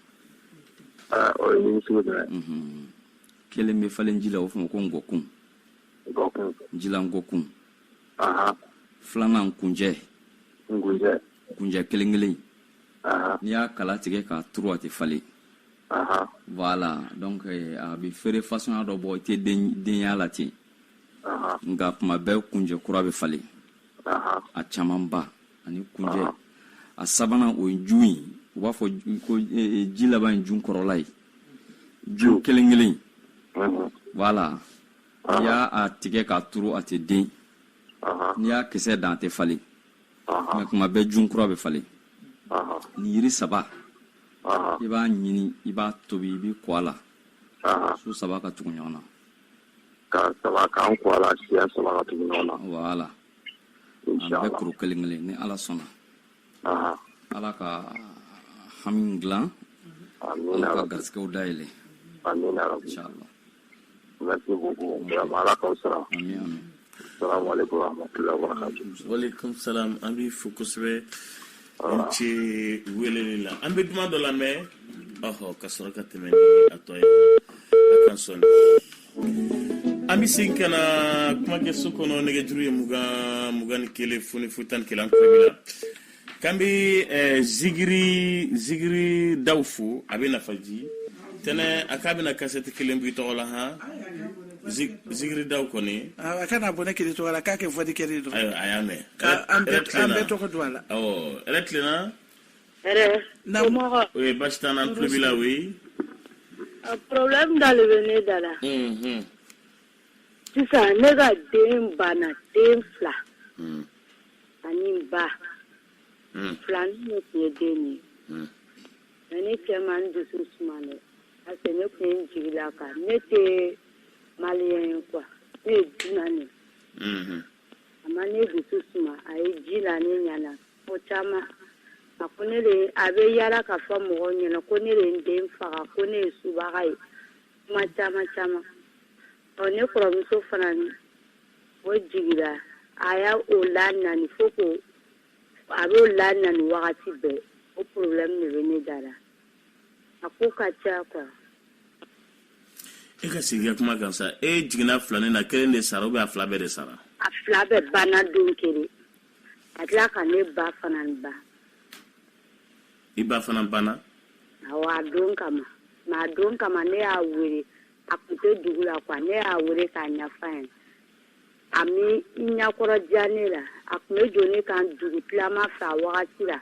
S1: mhm. kelen bɛ falen ji la o f'a ma ko ngɔkun jila ngɔkun filanan kunjɛ kunjɛ kelen kelen n'i y'a kala tigɛ k'a turu a tɛ falen voilà donc eh, a bɛ feere fasɔnya dɔ bɔ i tɛ den y'a la ten nka kuma bɛɛ kunjɛ kura bɛ falen a camanba ani kunjɛ a sabanan o ye jun ye u b'a fɔ ko eh, eh, ji laban ye jun kɔrɔla ye jun kelen kelen voilà n'i y'a a tigɛ k'a turu a tɛ den n'i y'a kisɛ dan a tɛ falen nka kuma bɛɛ jun kura bɛ falen nin yiri saba i b'a ɲini i b'a tobi i b'i ko a la su saba ka tugu ɲɔgɔn na ka saba k'an ko a la siɲɛ saba ka tugu ɲɔgɔn na voilà a bɛɛ kuru kelen kelen ni ala sɔnna ala ka hami dilan ala ka garisigɛw dayɛlɛ inshallah an b'i fo kosɛbɛ i ni ce weleli la an bɛ duman dɔ lamɛn ka sɔrɔ ka tɛmɛ atɔ ye ka sɔn an bɛ segin ka na kumakɛso kɔnɔ nɛgɛjuru ye mugan mugan ni kelen fu ni fu tan ni kelen an la K'an bɛ ɛɛ zikiri zikiri daw fo a bɛ nafaji tɛnɛ a k'a bɛna kasɛti kelen bɔ i tɔgɔ la han zikiri daw kɔni a kana bɔ ne kelen tɔgɔ la k'a kɛ fɔli kɛli dɔrɔn ayiwa a y'a mɛn an bɛɛ tɔgɔ don a la awɔ hɛrɛ tilenna hɛrɛ na mɔgɔ o ye basi t'an na an tulo b'i la oui problème dɔ de bɛ ne da la sisan ne ka den banna den fila hmm. ani n ba hmm. filanin ne tun ye den ye hmm. mais ne cɛ ma n dusu suma dɛ parce que ne tun ye n jigi la a kan ne tɛ maliyɛn ye quoi ne ye dunan de hmm. a ma ne dusu suma a ye ji la ne ɲɛna ko caman a ko ne de a bɛ yaala k'a fɔ mɔgɔw ɲɛna ko ne de ye n den faga ko ne ye subaga ye kuma caman caman Ɔ ne kɔrɔmuso fana o jigira a ye o laɲani fo ko a b'o laɲani wagati bɛɛ o problème de bɛ ne da la a ko ka ca quoi e ka segin kuma kan sa e jiginna filanin na kelen de sara ou bien a fila bɛɛ de sara a fila bɛɛ banna don kelen a tila ka ne ba fana ban i ba fana banna awɔ a don kama ma a don kama ne y'a wele a tun tɛ dugu la quoi ne y'a wele k'a ɲɛf'a ɲɛna a m'i ɲɛkɔrɔ diya ne la a tun bɛ don ne kan dugutilama fɛ a wagati la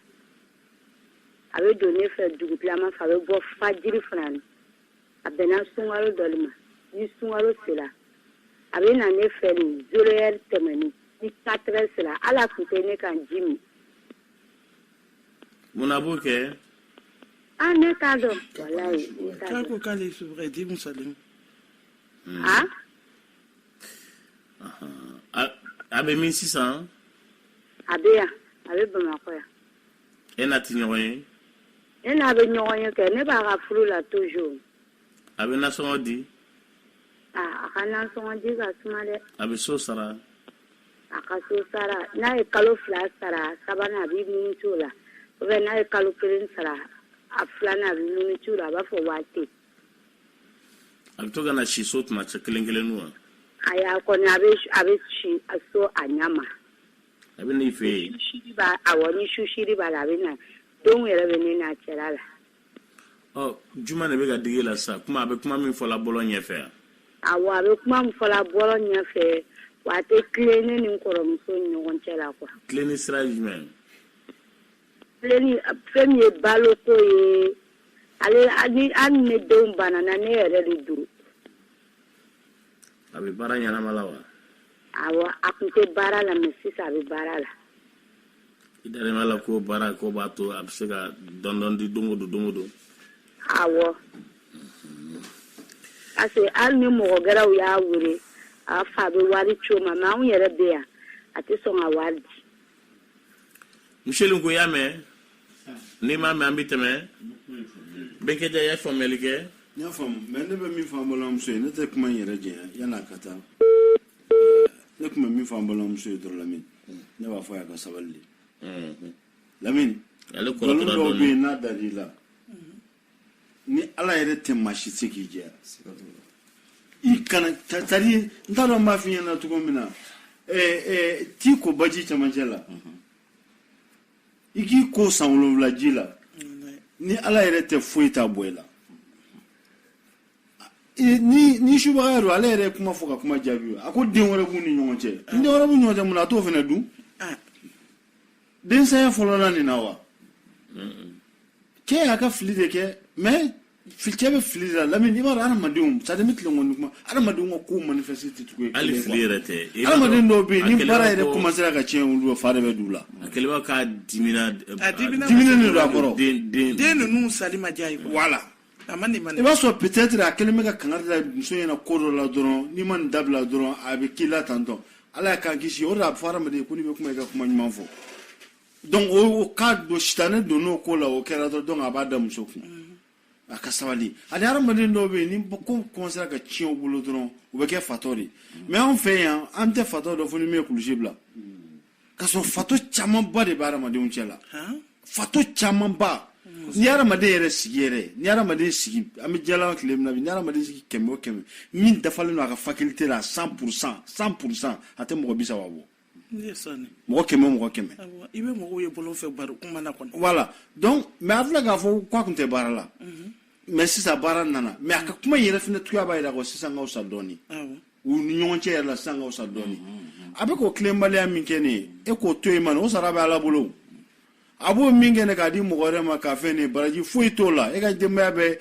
S1: a bɛ don ne fɛ dugutilama fɛ a bɛ bɔ fajiri fana na a bɛnna sunkalo dɔ de ma ni sunkalo sera a bɛ na ne fɛ ni zéro heure tɛmɛna ni quatre heures sera hali a tun tɛ ne ka ji min munna a b'o kɛ ah ne t'a dɔn walayi ne t'a k'a dɔn ko k'ale sufɛ di musalen ah a a bɛ min sisan a bɛ yan a bɛ bamakɔ yan e n'a tɛ ɲɔgɔn ye ne n'a bɛ ɲɔgɔn ye kɛ ne b'a ka furu la toujours a bɛ nasɔngɔ di ah a ka nasɔngɔdi ka suma dɛ a bɛ so sara a ka so sara n'a ye kalo fila sara a sabanan a b'i munucu o la ou bien n'a ye kalo kelen sara a filanan a b'i munucu o la a b'a fɔ wari tɛ a bɛ to ka na si so tuma cɛ kelen kelen wa ayi a kɔni a bɛ a bɛ si a so a ɲɛ ma a bɛ n'i fɛ yen ni susiri b'a awɔ ni susiri b'a la a bɛ na denw yɛrɛ bɛ ne n'a cɛla la juma de bɛ ka digi la sa kuma a bɛ kuma min fɔla bɔlɔ ɲɛfɛ yan awɔ a bɛ kuma min fɔla bɔlɔ ɲɛfɛ wa a tɛ tilen ne ni kɔrɔmuso ni ɲɔgɔn cɛ la quoi tilenni sira jumɛn tilenni fɛn min ye baloko ye ale ni ani ne denw banana ne yɛrɛ de don a bɛ baara ɲɛnama la wa Awɔ a tun tɛ baara la mais sisan a bɛ baara la i da b'a la ko baarako b'a to a bɛ se ka dɔɔnin dɔɔnin di don don don don awɔ parce que hali ni mɔgɔ gɛrɛw y'a wele a fa a bɛ wari c'o ma anw yɛrɛ bɛ yan a tɛ sɔn ka wari di miseli ko y'a mɛn n'i m'a mɛn an bɛ tɛmɛ bɛnkɛja i ye faamuyali kɛ n y'a faamu mais ne bɛ min fɔ an balimamuso ye ne tɛ kuma in yɛrɛ jɛya yann'a ka taa ne tun bɛ min fɔ an balimamuso ye dɔrɔn lamini ne b'a fɔ a y'a ka sabali de lamini nkalon dɔw bɛ yen n'a dar'i la ni ala yɛrɛ tɛ maa si se k'i jɛya i kana tari n t'a dɔn n b'a f'i ɲɛna cogo min na t'i ko baji camancɛ la i k'i ko san wolonwula ji la ni ala yɛrɛ tɛ foyi t'a bɔ i la ni ni subagaya don ale yɛrɛ kuma fɔ ka kuma jaabi a ko den wɛrɛ b'u ni ɲɔgɔn cɛ den wɛrɛ b'u ɲɔgɔn cɛ mun na a t'o fana dun densaya fɔlɔla nin na wa cɛ y'a ka fili de kɛ mais cɛ bɛ fili de la lamini i b'a dɔn adamadenw c'est-à-dire n bɛ tilen kɔni kuma adamadenw ka kow manifester cogo ye hali fili yɛrɛ tɛ adamaden dɔw bɛ yen ni baara yɛrɛ commencera ka tiɲɛ olu fa de bɛ d'u la a kɛlen bɛ ka dimi a diminen de don a kɔrɔ den ninnu sali ma diy'a ye voilà i b'a sɔrɔ peut-être a kɛlen bɛ ka kan da muso ɲɛna ko dɔ la dɔrɔn n'i ma nin dabila dɔrɔn a bɛ k'i la tan dɔn ala k'an kisi o a fɔra ma ko bɛ kuma i ka kuma ɲuman fɔ dɔn o ka don si ne don n'o ko la o kɛra dɔn dɔn a b'a da muso kun a ka sabali ani hadamaden dɔw bɛ yen ni ko commencera ka tiɲɛ u bolo dɔrɔn u bɛ kɛ fatɔ de mais anw fɛ yan an tɛ fatɔ dɔn fo ni min ye kulusi bila ka sɔrɔ fatɔ camanba de bɛ adamadenw cɛ la fatɔ camanba ni adamaden yɛrɛ sigi yɛrɛ ni adamaden sigi an bɛ diɲɛlaban tile min na bi ni adamaden sigi kɛmɛ o kɛmɛ min dafalen don a ka faculté la cent pour cent cent pour cent a tɛ mɔgɔ bi saba bɔ mɔgɔ kɛmɛ mɔgɔ kɛmɛ i bɛ mɔgɔw ye bɔlɔn fɛ baro kuma na kɔni voilà donc mais a filɛ k'a fɔ k'a tun tɛ baara la mais sisan baara nana mais a ka kuma in yɛrɛ fana tuya b'a jira ko sisan ka fisa dɔɔnin u ni ɲɔgɔn cɛ yɛrɛ la sisan ka fisa dɔɔni a bɛ k'o tilenbaliya min kɛ nin ye e k'o to yen man o sara bɛ ala bolo a b'o min kɛ nin k'a di mɔgɔ wɛrɛ ma k'a fɛn ne baraji foyi t'o la e ka denbaya bɛ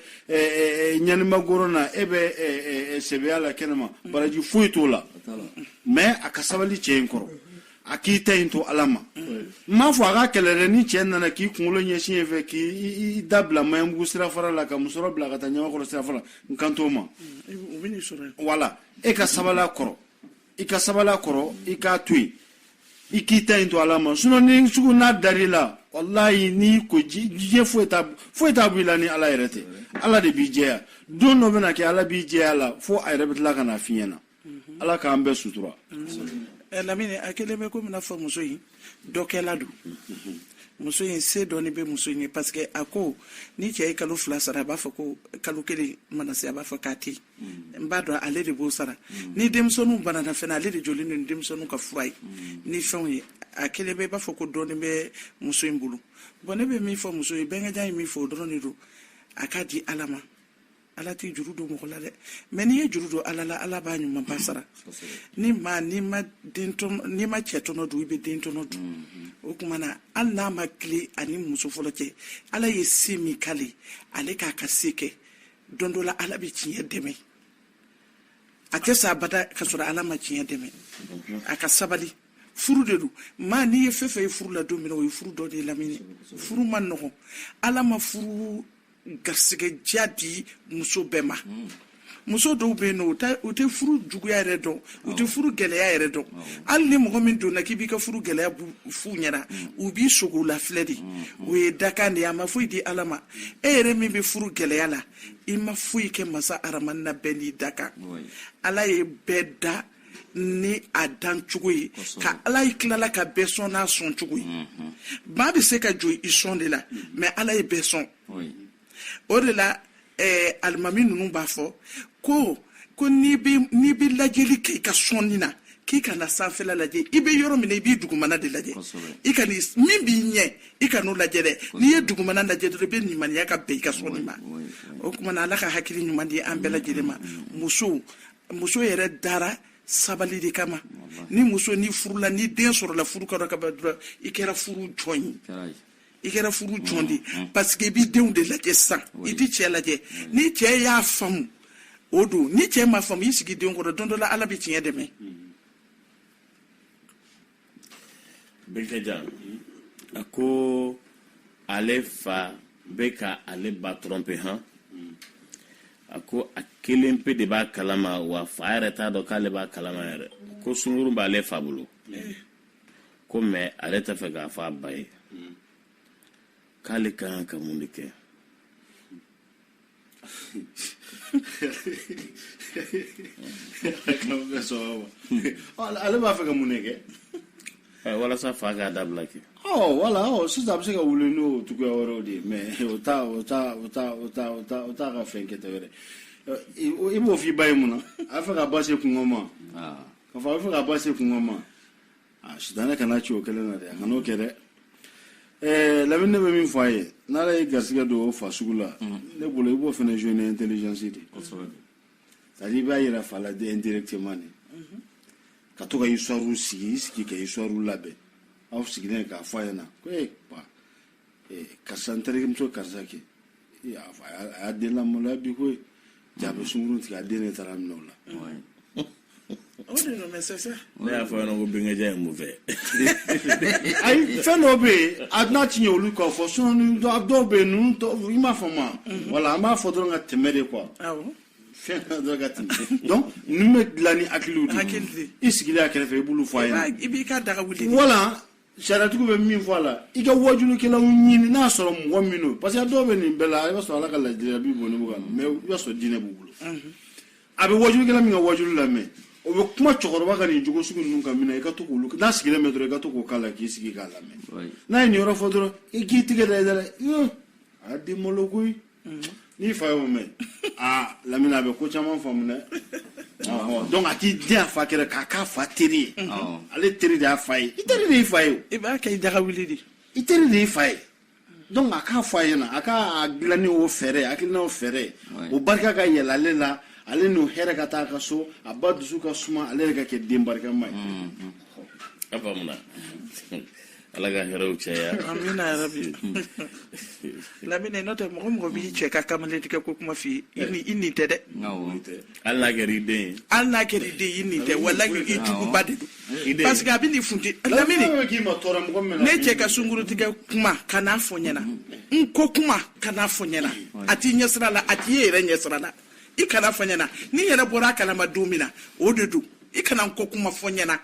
S1: ɲanimagoro na e bɛ sɛbɛya la kɛnɛma baraji foyi t'o la mais a ka sabali cɛ in kɔrɔ a k'i ta in to ala ma n m'a fɔ a ka kɛlɛ dɛ ni cɛɛ nana k'i kunkolo ɲɛsin yen fɛ k'i da bila maɲanbugu sirafara la ka musɔrɔ bila ka taa ɲamakɔrɔ sirafara n kan t'o ma wala e ka sabali a kɔrɔ i ka sabali a kɔrɔ i k'a to yen i k'i ta in to ala ma sinɔ ni sugu n'a dar'i la walayi n'i ko diɲɛ foyi t'a foyi t'a b'i la ni ala yɛrɛ tɛ ala de b'i jɛya don dɔ bɛna kɛ ala b'i jɛya la fo a yɛrɛ bɛ tila ka na f'i ɲɛna mhm. ala k'an bɛɛ sutura mhm. eh, lamini a kelen bɛ komi n'a fɔ muso in dɔkɛla don mhm. muso in se dɔɔni bɛ muso in ye parce que a ko ni cɛ ye kalo fila sara a b'a fɔ ko kalo kelen mana se a b'a fɔ k'a tɛ n b'a dɔn ale de b'o sara ni denmisɛnninw banana fɛnɛ ale de jɔlen don ni denmisɛnninw ka fura ye ni fɛnw ye a kelen bɛ i b'a fɔ ko dɔɔni bɛ muso in bolo bɔn ne bɛ min fɔ muso ye bɛnkɛjan ye min fɔ o dɔrɔn de don a k'a di ala ma ala tɛ juru don mɔgɔ la dɛ mɛ n'i ye juru don ala la ala b'a ɲumanba sara ni ma n'i ma n'i ma cɛ tɔnɔ dun i bɛ den tɔnɔ dun mm-hmm. o tuma na hali n'a ma tilen a ni muso fɔlɔ cɛ ala ye se min k'ale ale k'a ka se kɛ don dɔ la ala bɛ tiɲɛ dɛmɛ a tɛ sa abada ka sɔrɔ ala ma tiɲɛ dɛmɛ mm-hmm. a ka sabali furu de don maa n'i ye fɛn fɛn ye furu la don min na o ye furu dɔ de lamini furu ma nɔgɔn ala ma furu garisɛgɛdiya di muso bɛɛ ma muso dɔw bɛ yen nɔ u tɛ furu juguya yɛrɛ dɔn u tɛ furu gɛlɛya yɛrɛ dɔn hali ni mɔgɔ min donna k'i b'i ka furu gɛlɛya f'u ɲɛna mm. u b'i sogo la filɛ de mm. o ye dakan de ye a ma foyi di ala ma e yɛrɛ min bɛ furu gɛlɛya la i ma foyi kɛ masa aramani na bɛɛ n'i dakan ala ye bɛɛ da ni a dan cogo ye ka ala ye tilala ka bɛɛ sɔn n'a sɔn cogo ye mhm. maa bɛ se ka jɔn i sɔn de la mhm. mɛ ala ye bɛɛ sɔn o de la eh, alimami ninnu b'a fɔ ko ko n'i bɛ lajɛli kɛ i ka sɔnni na k'i kana sanfɛla lajɛ i bɛ yɔrɔ min na i b'i dugumana de lajɛ i ka min b'i ɲɛ i kan'o lajɛ dɛ n'i ye dugumana lajɛ dɔrɔn i bɛ limaniya ka bɛn i ka sɔnni ma o tuma na ala ka hakili ɲuman di an bɛɛ lajɛlen ma musow muso yɛrɛ dara sabali de kama ni muso ni furula ni den sɔrɔla furu kɛra ka ban dɔrɔn i kɛra furu jɔn ye i kɛra furu jɔn de mm, mm. parce que i b'i denw de lajɛ sisan i t'i cɛɛ lajɛ mm. n'i cɛɛ y'a faamu o don n'i cɛɛ m'a faamu i sigi denw kɔrɔ don dɔ la ala bɛ tiɲɛ dɛmɛ Bɛnkɛjan a ko ale fa bɛ ka ale ba tromper hɔn a ko a kelen pe de b'a kalama wa fa yɛrɛ t'a dɔn k'ale b'a kalama yɛrɛ ko sungurun b'ale fa bolo ko mɛ ale tɛ fɛ k'a fɔ a ba ye k'ale ka kan ka mun de kɛ ale b'a fɛ ka mun kɛ walasa fa k'a dabila kɛ wala sisan a bɛ se ka wuli n'o cogoya wɛrɛw de ye mais o t'a ka fɛn kɛta wɛrɛ i b'o f'i ba ye mun na a bɛ fɛ ka ba se kunko ma k'a fɔ a bɛ fɛ ka ba se kunko ma a sitanɛ kana ci o kelen na dɛ a kan'o kɛ dɛ ɛɛ lamini ne bɛ min fɔ a ye n'ala y'i garisigɛ don o fa sugu la ne bolo i b'o fana jouer ni intelligence de ye c'est à dire i b'a yira fa la de indirectement de ka to ka histoire sigi i sigi ka histoire labɛn aw sigilen k'a fɔ a ɲɛna ko ee pa karisa n terimuso karisa kɛ a y'a den lamaloya bi ko jaa a bɛ sungurun tigɛ a den de taar'a minɛ o la o de nɔ mɛ sɛsɛ ne y'a fɔ ɲɛna ko bɛnkɛja ye mun fɛ ayi fɛn dɔw bɛ yen a n'a ti ɲɛ olu kɔ fɔ sinon ni dɔ- dɔw bɛ yen ninnu tɔ i m'a faamu wa wala an b'a fɔ dɔrɔn ka tɛmɛ de quoi awɔ fɛn na dɔrɔn ka tɛmɛ donc ninnu bɛ dilan ni hakiliw de ye Hakili de. i sigilen a kɛrɛfɛ i b'olu fɔ a ɲɛna i b'i ka daga wuli wala sariyatigiw bɛ min fɔ a la i ka wajulukɛlaw ɲini n'a sɔrɔ mɔgɔ min don parce que dɔw bɛ nin bɛɛ la i b'a sɔrɔ ala ka laadiriya b'i bolo nka mais i b'a sɔrɔ diinɛ b'u bolo a bɛ wajulukɛla min ka wajulu lamɛn o bɛ kuma cɛkɔrɔba ka nin jogo sugu ninnu kan min na i ka to k'olu n'a sigilen bɛ dɔrɔn i ka to k'o k'a la k'i sigi k'a lamɛn n'a ye nin yɔrɔ fɔ dɔrɔn i k'i tɛgɛ da i da la a den malo koyi n'i fa y'o mɛn aa lamini a bɛ ko caman faamu dɛ donc a k'i dɛn a fa kɛrɛ k'a k'a fa teri ye ale teri de y'a fa ye i teri de y'i fa ye i b'a kɛ i daga wuli de i teri de y'i fa ye donc a k'a fɔ a ɲɛna a k'a dilan ni o fɛɛrɛ a dilan o fɛɛrɛ o barika ka yɛlɛ ale la ale n'o hɛrɛ ka taa a ka so a ba dusu ka suma ale yɛrɛ ka kɛ den barikama ye a faamuna ala ka hɛrɛw caya amina yarabi lamine n'o tɛ mɔgɔ mɔgɔ b'i cɛ ka kamalen tigɛ ko kuma f'i ye i ɲin tɛ dɛ hali n'a kɛra i den ye hali n'a kɛra i den i ɲin tɛ wala i juguba de don parce que a bɛ nin funti lamine ne cɛ ka sungurun tigɛ kuma kana fɔ ɲɛna n ko kuma kana fɔ ɲɛna a t'i ɲɛsira la a t'i ye yɛrɛ ɲɛsira la i kana fɔ ɲɛna ne yɛrɛ bɔra a kalama don min na o de don i kana n ko kuma fɔ ɲɛna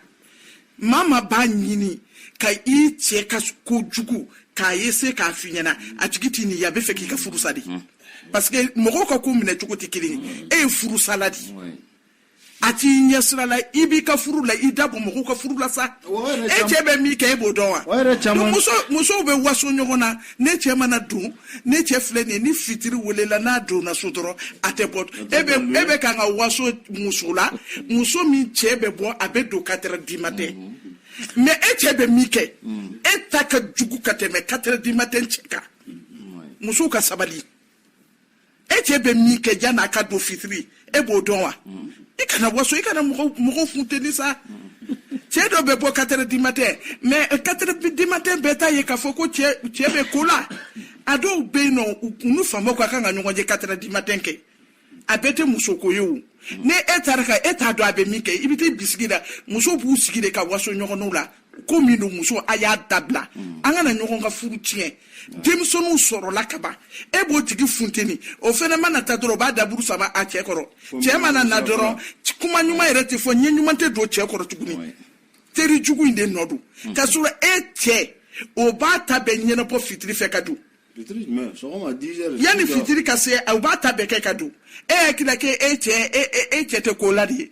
S1: maa maa b'a ɲini ka i cɛ ka ko jugu k'a ye se k'a f'i ɲɛna a tigi t'i ɲin ye a bɛ fɛ k'i ka furu sa de parce que mɔgɔw ka ko minɛ cogo tɛ kelen ye e ye furusala de ye a t'i ɲɛsira la i b'i ka furu la i da bɔ mɔgɔw ka furu la sa e cɛ bɛ min kɛ e b'o dɔn wa musow bɛ waso ɲɔgɔn na ne cɛ mana don ne cɛ filɛ nin ye ni fitiri welela n'a donna so dɔrɔn a tɛ bɔ e bɛ e bɛ kan ka waso muso la muso min cɛ bɛ bɔ a bɛ don quatre heures du matin mais e cɛ bɛ min kɛ e ta ka jugu ka tɛmɛ quatre heures du matin cɛ kan musow ka sabali e cɛ bɛ min kɛ yann'a ka don fitiri e b'o dɔn wa mm. i kana waso i kana mɔgɔw funteni sa cɛ dɔ bɛ bɔ quatre heures du matin mais quatre heures du matin bɛɛ t'a ye k'a fɔ ko cɛ bɛ ko la a dɔw bɛ yen nɔ u n'u faamaw ka kan ka ɲɔgɔn ye quatre heures du matin kɛ a bɛɛ tɛ musoko ye o ne e taara ka e t'a dɔn a bɛ min kɛ i bɛ t'i bisigi la musow b'u sigi de ka waso ɲɔgɔnw la ko min don musow a y'a dabila mm. an kana ɲɔgɔn ka furu tiɲɛ denmisɛnninw sɔrɔla ka ban e b'o tigi funteni o fɛnɛ mana ta dɔrɔn o b'a daburu sama a cɛ kɔrɔ cɛ mana na dɔrɔn kuma ɲuman yɛrɛ tɛ fɔ ɲɛ ɲuman tɛ don cɛ kɔrɔ tuguni teri jugu in de nɔ don mm. ka sɔrɔ e cɛ o b'a ta bɛɛ ɲɛnabɔ fitiri fɛ ka don yanni fitiri ka se u b'a ta bɛɛ kɛ ka don e hakilila k'e cɛ e, e, e cɛ tɛ ko la de ye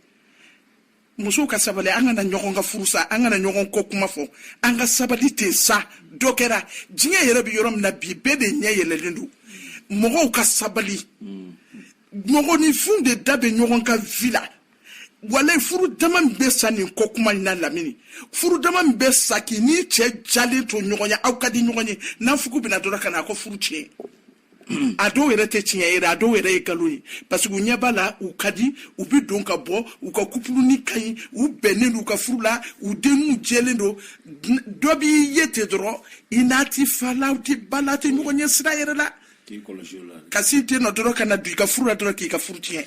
S1: musow ka sabali an kana ɲɔgɔn ka furu sa an kana ɲɔgɔn kɔ kuma fɔ an ka sabali ten sa dɔ kɛra diɲɛ yɛrɛ bɛ yɔrɔ min na bi bɛɛ de ɲɛ yɛlɛlen don mɔgɔw ka sabali mɔgɔninfinw de da bɛ ɲɔgɔn ka vie la walayi furu dama min bɛ sa nin kɔ kuma in na lamini furu dama min bɛ sa k'i n'i cɛ diyalen to ɲɔgɔn ye aw ka di ɲɔgɔn ye naafigi bɛ na dɔrɔn ka na aw ka furu tiɲɛ a dɔw yɛrɛ tɛ tiɲɛ yɛrɛ a dɔw yɛrɛ ye nkalon ye parce que u ɲɛ b'a la u ka di u bɛ don ka bɔ u ka couple nin ka ɲi u bɛnnen don u ka furu la u denw jɛlen don dɔ b'i ye ten dɔrɔn i n'a tɛ fa la u tɛ ba la tɛ ɲɔgɔn ɲɛsira yɛrɛ la ka sin ten nɔ dɔrɔn ka na don i ka furu la dɔrɔn k'i ka furu tiɲɛ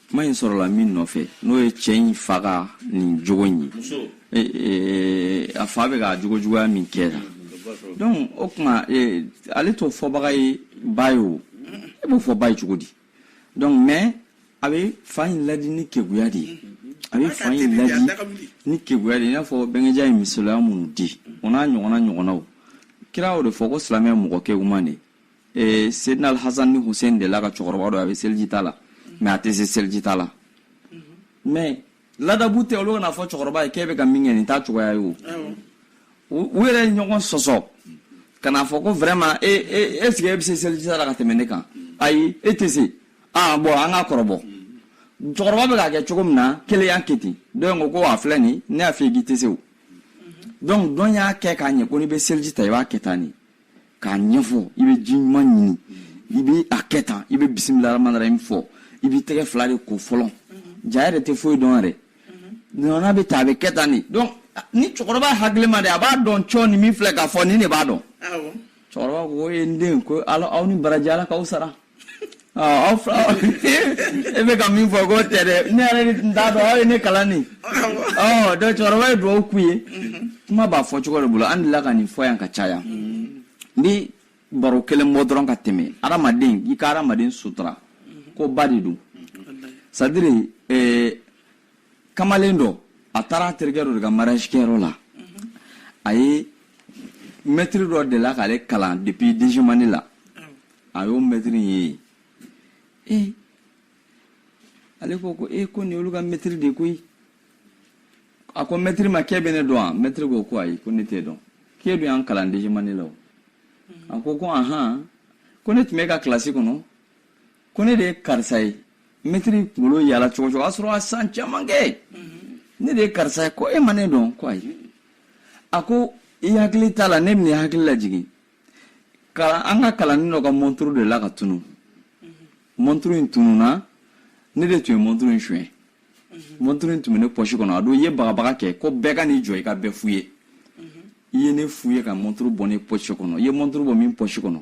S1: kuma in sɔrɔla min nɔfɛ n'o ye cɛ in fa ka nin jogo in ye a fa bɛ ka jogo juguya min kɛ la donc o tuma ale t'o fɔbaga ye ba ye o e b'o fɔ ba ye cogo di donc mais a bɛ fa in ladi ni keguya de ye a bɛ fa in ladi ni keguya de ye i n'a fɔ bɛnkɛja ye misaliya minnu di o n'a ɲɔgɔnna ɲɔgɔnnaw kira y'o de fɔ ko silamɛ mɔgɔ keguman de ye ee sedinal hasan ni husein delila ka cɛkɔrɔba dɔ a bɛ seliji ta la mais a tɛ se seliji ta la mais ladabu tɛ olu ka n'a fɔ cɛkɔrɔba ye k'e bɛ ka min kɛ nin t'a cogoya ye o u yɛrɛ ye ɲɔgɔn sɔsɔ ka n'a fɔ ko vraiment e e est ce que e bɛ se seliji ta la ka tɛmɛ ne kan ayi e tɛ se ah bon an k'a kɔrɔbɔ cɛkɔrɔba bɛ k'a kɛ cogo min na kelen y'a kɛ ten dɔ in ko ko a filɛ nin ne y'a f'i ye k'i tɛ se o donc dɔ in y'a kɛ k'a ɲɛ ko n'i bɛ seliji ta i b'a kɛ tan nin k'a ɲɛfɔ i bɛ ji ɲuman ɲini i bɛ a kɛ tan i bɛ bisimila rahmani rahim fɔ i b'i tɛgɛ fila de ko fɔlɔ jaa e yɛrɛ tɛ foyi dɔn yɛrɛ nɔnɔ bɛ ta a bɛ kɛ tan de donc ni cɛkɔrɔba hakilima de a b'a dɔn cɔ ni min filɛ k'a fɔ nin de b'a dɔn cɛkɔrɔba ko e n den ko aw ni baraji ala k'aw sara ɔ e bɛ ka min fɔ k'o tɛ dɛ ne yɛrɛ de tun t'a dɔn aw ye ne kalan nin ɔ donc cɛkɔrɔba ye dugawu k'u ye kuma b'a fɔ cogo de bolo an delila ka nin fɔ yan ka caya n bi baro kelen bɔ dɔrɔn ka tɛmɛ adamaden i ka adamaden sutura ko ba de don c'est-à-dire eh, kamalen dɔ a taara a terikɛ dɔ de ka mariage kɛyɔrɔ la a ye mɛtiri dɔ delila k'ale kalan depuis deuxième année la a y'o mɛtiri ye yen ee ale ko ko ee ko nin olu ka mɛtiri de koyi a ko mɛtiri ma k'e bɛ ne dɔn wa mɛtiri ko ko ayi ko ne t'e dɔn k'e dun y'an kalan deuxième année la o a ko ko ahan ko ne tun b'e ka kilasi kɔnɔ ko ne de ye karisa ye mɛtiri kunkolo yaala cogo o cogo a sɔrɔ a san caman kɛ ne de ye karisa ye ko e ma ne dɔn ko ayi a ko i hakili t'a la ne bɛna i hakili lajigin kalan an ka kalanden dɔ ka mɔnturu delila ka tunun mɔnturu in tununa ne de tun ye mɔnturu in suɲɛ mɔnturu in tun bɛ ne pɔsi kɔnɔ a don i ye bagabaga kɛ ko bɛɛ ka n'i jɔ i ka bɛɛ fuye i ye ne fuye ka mɔnturu bɔ ne pɔsi kɔnɔ i ye mɔnturu bɔ min pɔsi kɔnɔ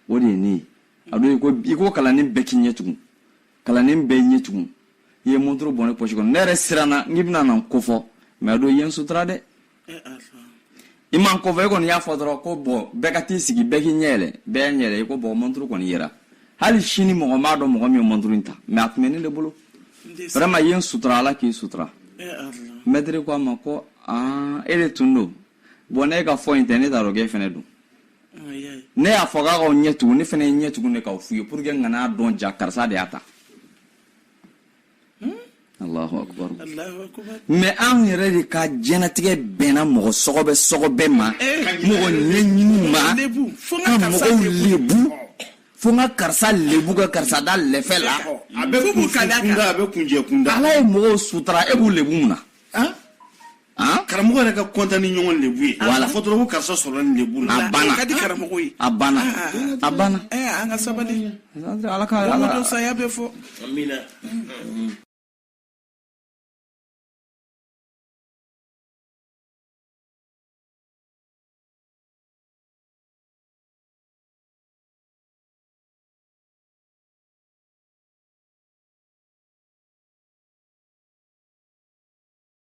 S1: o de ye ne ye a don i ko i ko kalanden bɛɛ k'i ɲɛ tugu kalanden bɛɛ y'a ɲɛ tugu i ye mɔnturu bɔ ne pɔsi kɔnɔ ne yɛrɛ siranna n k'i bɛna na n kofɔ mɛ a don i ye n sutura dɛ i ma n kofɔ e kɔni y'a fɔ dɔrɔn ko bɔn bɛɛ ka t'i sigi bɛɛ k'i ɲɛ yɛlɛ bɛɛ y'a ɲɛ yɛlɛ i ko bɔn mɔnturu kɔni yera hali sini mɔgɔ m'a dɔn mɔgɔ min ye mɔnturu in ta mɛ a tun bɛ ne de bolo vraiment i ye n sutura ala k'i sutura mɛtiri ko a ma ko aa e de tun don bɔn ne ka fɔ in tɛ ne t'a dɔn k'e fɛnɛ don ne y'a fɔ k'aw k'aw ɲɛ tugu ne fɛnɛ ye n ɲɛ tugu de k'aw fuye pour que n kan'a dɔn jaa karisa de y'a ta mɛ an yɛrɛ de ka jɛnatigɛ bɛnna mɔgɔ sɔgɔbɛ sɔgɔbɛ ma eh. mɔgɔ ɲɛɲini ma ka mɔgɔw lebu fo n ka karisa lebu ka karisa da lɛfɛ la ala ye mɔgɔw sutura e b'u lebu mun na Hein? karamɔgɔ yɛrɛ ka kɔntan ni ɲɔgɔn lebu ye wala fɔ dɔrɔn ko karisa sɔrɔla ni lebu la a banna ka di karamɔgɔ ye a banna a banna an ka sabali ala ka ala ka saya bɛ fɔ amina